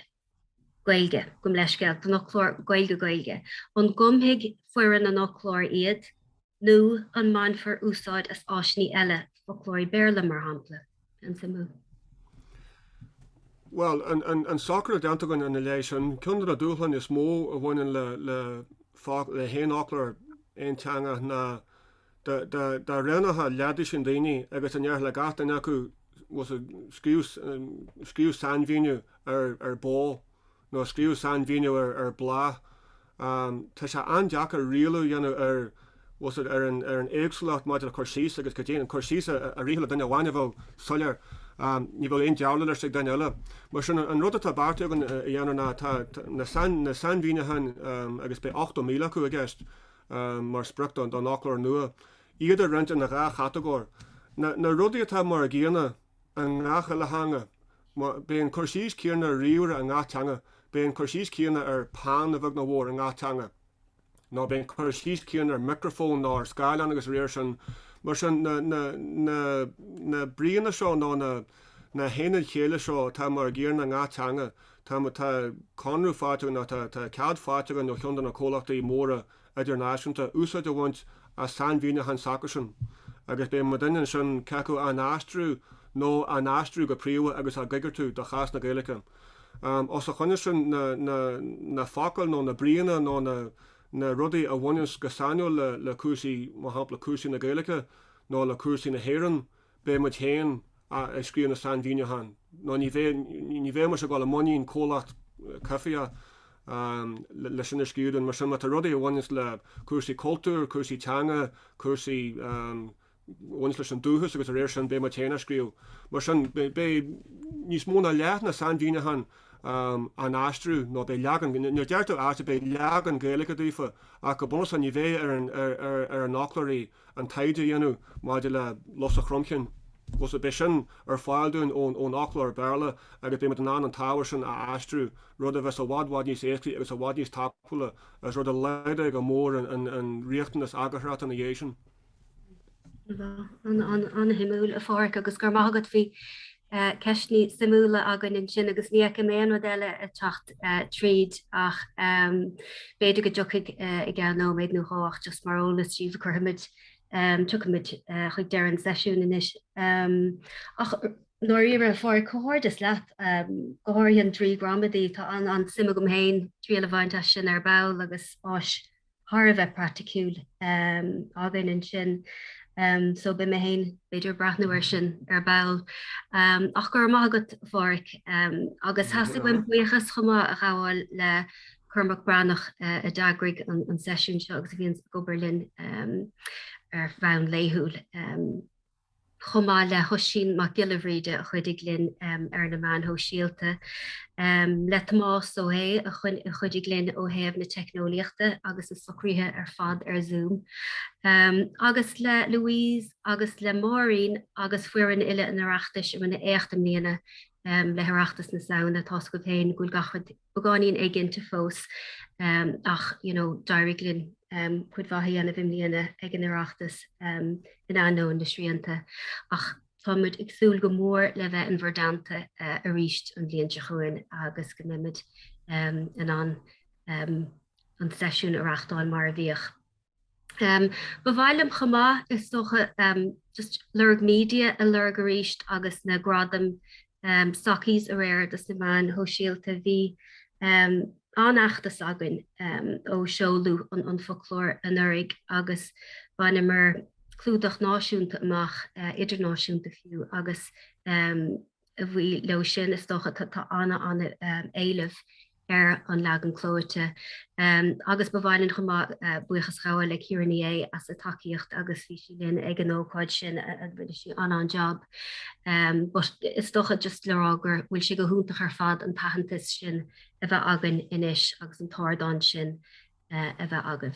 Gaeilge, gabhaim leithscéal, don fhoclóir Gaeilge-Gaeilge, an gcumfaidh foireann an fhoclóra iad nó an mbainfear úsáid as áiseanna eile, foclóirí Béarla, mar shampla? An-suimiúil. Bhuel, an socrú atá déanta againn ina leith sin, ceann de na dúshláin is mó a bhaineann le haon fhoclóir aonteangach ná dá roghnaítheá leathdhosaen daoine agus dá ndéarfá le gach duine acu, scríobh sainmhíniú ar bó. nó scríobh sainmhíniú ar ar bláth Tá sé an-deacair rialú a dhéanamh ar ar an ar an éagsúlacht maidir le cur síos agus go deimhin cur síos a rithfeadh le duine amháin a bheadh soiléir ní bheadh aon dealramh leis ag duine eile. Mar sin, an rud atá beartaithe againn a dhéanamh ná tá na sainmhíniúcháin agus beidh 80,000 acu i gceist mar sprioc don fhoclóir nua, iad a roinnt ina dhá chatagóir Na rudaí atá mar a gcéanna i i ngach uile theanga. Beidh an cur síos céanna ar ríomhaire i ngach teanga, beidh an cur síos céanna ar peann, a bheag nó a mhór, i ngach teanga, nó beidh an cur síos céanna ar mhicreafón nó ar scáileán agus dá réir sin. Mar sin, na bríonna seo nó na haonaid chéille seo atá mar a gcéanna i ngach teanga, tá conradh faighte againn nó tá cead faighte againn ó cheann de na comhlachtaí móra, idirnáisiúnta úsáid a bhaint as sainmhíniúcháin s'acusan agus beidh muid in ann ansin ceachtar acu á n-aistriú nó á n-aistriú go príomha agus á gcoigeartú do chás na Gaeilge. Os a choinne sin, na focail nó na bríonna nó na rudaí a bhaineas go sainiúil le cúrsaí, mar shampla, cúrsaí na Gaeilge nó le cúrsaí na hÉireann, beidh muid féin ag scríobh na sainmhíniúcháin nó ní bheidh, ní bheimis ag dul i muinín comhlacht coimhthíoch leis sin a scríobh dúinn. Mar sin, má tá rudaí a bhaineas le cúrsaí cultúir, cúrsaí teanga, cúrsaí a bhaineas leis an dúchas agus dá réir sin, beidh muid féin á scríobh. Mar sin, beidh níos mó ná leath na sainmhíniúcháin á n-aistriú nó beidh leagan, nó déarfá beidh leagan Gaeilge daofa ach go bunúsach ní bheidh ar an fhoclóirí. an taighde a dhéanamh maidir le lus an chromchinn, is beidh sin ar fáil dúinn ón fhoclóir Béarla agus beidh muid in ann an t-ábhar sin a aistriú, rud a bheas i bhfad bhfad níos éascaí agus i bhfad níos tapúla agus rud a laghdóidh go mór an riachtanas eagarthóireachta ina dhiaidh sin. An-shuimiúil, a Pháraic, agus go raibh maith agat bhí. ceisteanna suimiúla againn ansin agus ní fheicim aon rud eile ag teacht tríd ach b'fhéidir go dtiocfaidh i gceann nóiméad nó dhó ach just mar eolas daoibh tiocfaimid, tiocfaimid chuig deireadh an seisiún anois. Ach i ndáiríre, a Pháraic, comhghairdeas leat, go háirithe an Draoi Gramadaí, tá an-suim agam féin triail a bhaint as sin ar ball agus áis thar a bheith praiticiúil againn ansin so beidh mé féin b'fhéidir ag breathnú air sin ar ball. Ach go raibh maith agat a Pháraic agus theastaigh uaim buíochas chomh maith a ghabháil le Cormac Breathnach a d'eagraigh an seisiún seo agus a bhíonns ag obair linn ar bhonn laethúil. chomh maith le hOisín Mac Giolla Bhríde a chuidigh linn ar na meáin shóisialta, le Tomás Ó hAodha a chuidigh linn ó thaobh na teicneolaíochta agus na socruithe ar fad ar Zoom, agus le Louise agus le Máirín agus foireann uile an Oireachtais a rinne éacht i mbliana le hOireachtas na Samhna. Tá a fhios agaibh féin go bhfuil gach rud. beagáinín éiginnte fós ach you know d'éirigh linn cuid mhaith a dhéanamh i mbliana ag an Oireachtas in ainneoin na srianta ach tá muid ag súil go mór le bheith in bhur dteannta arís an bhliain seo chugainn agus go mbeidh muid in ann an seisiún a reachtáil mar a bhíodh. Um, ba mhaith liom chomh maith, is dócha, um, just Lorg Media a lorg arís agus na gradaim um, Sockies aréir dos na meáin shóisialta. Bhí um, an-fheachtas againn um, ó seoladh an, an foclóir anuraidh agus bhaineamar clúdach náisiúnta amach, uh, idirnáisiúnta fiú, agus um, a bhuí leis sin, is dócha, tá an-éileamh ar an leagan clóite agus ba mhaith linn chomh maith buíochas a ghabháil le Ciara Ní É as a tacaíocht agus bhí sí linn ag an ócáid sin agus rinne sí an, an-jab. But is dócha just le rá gur bhfuil sé go hiontach ar fad an t-aitheantas sin a bheith againn anois agus an t-ardán sin a bheith againn.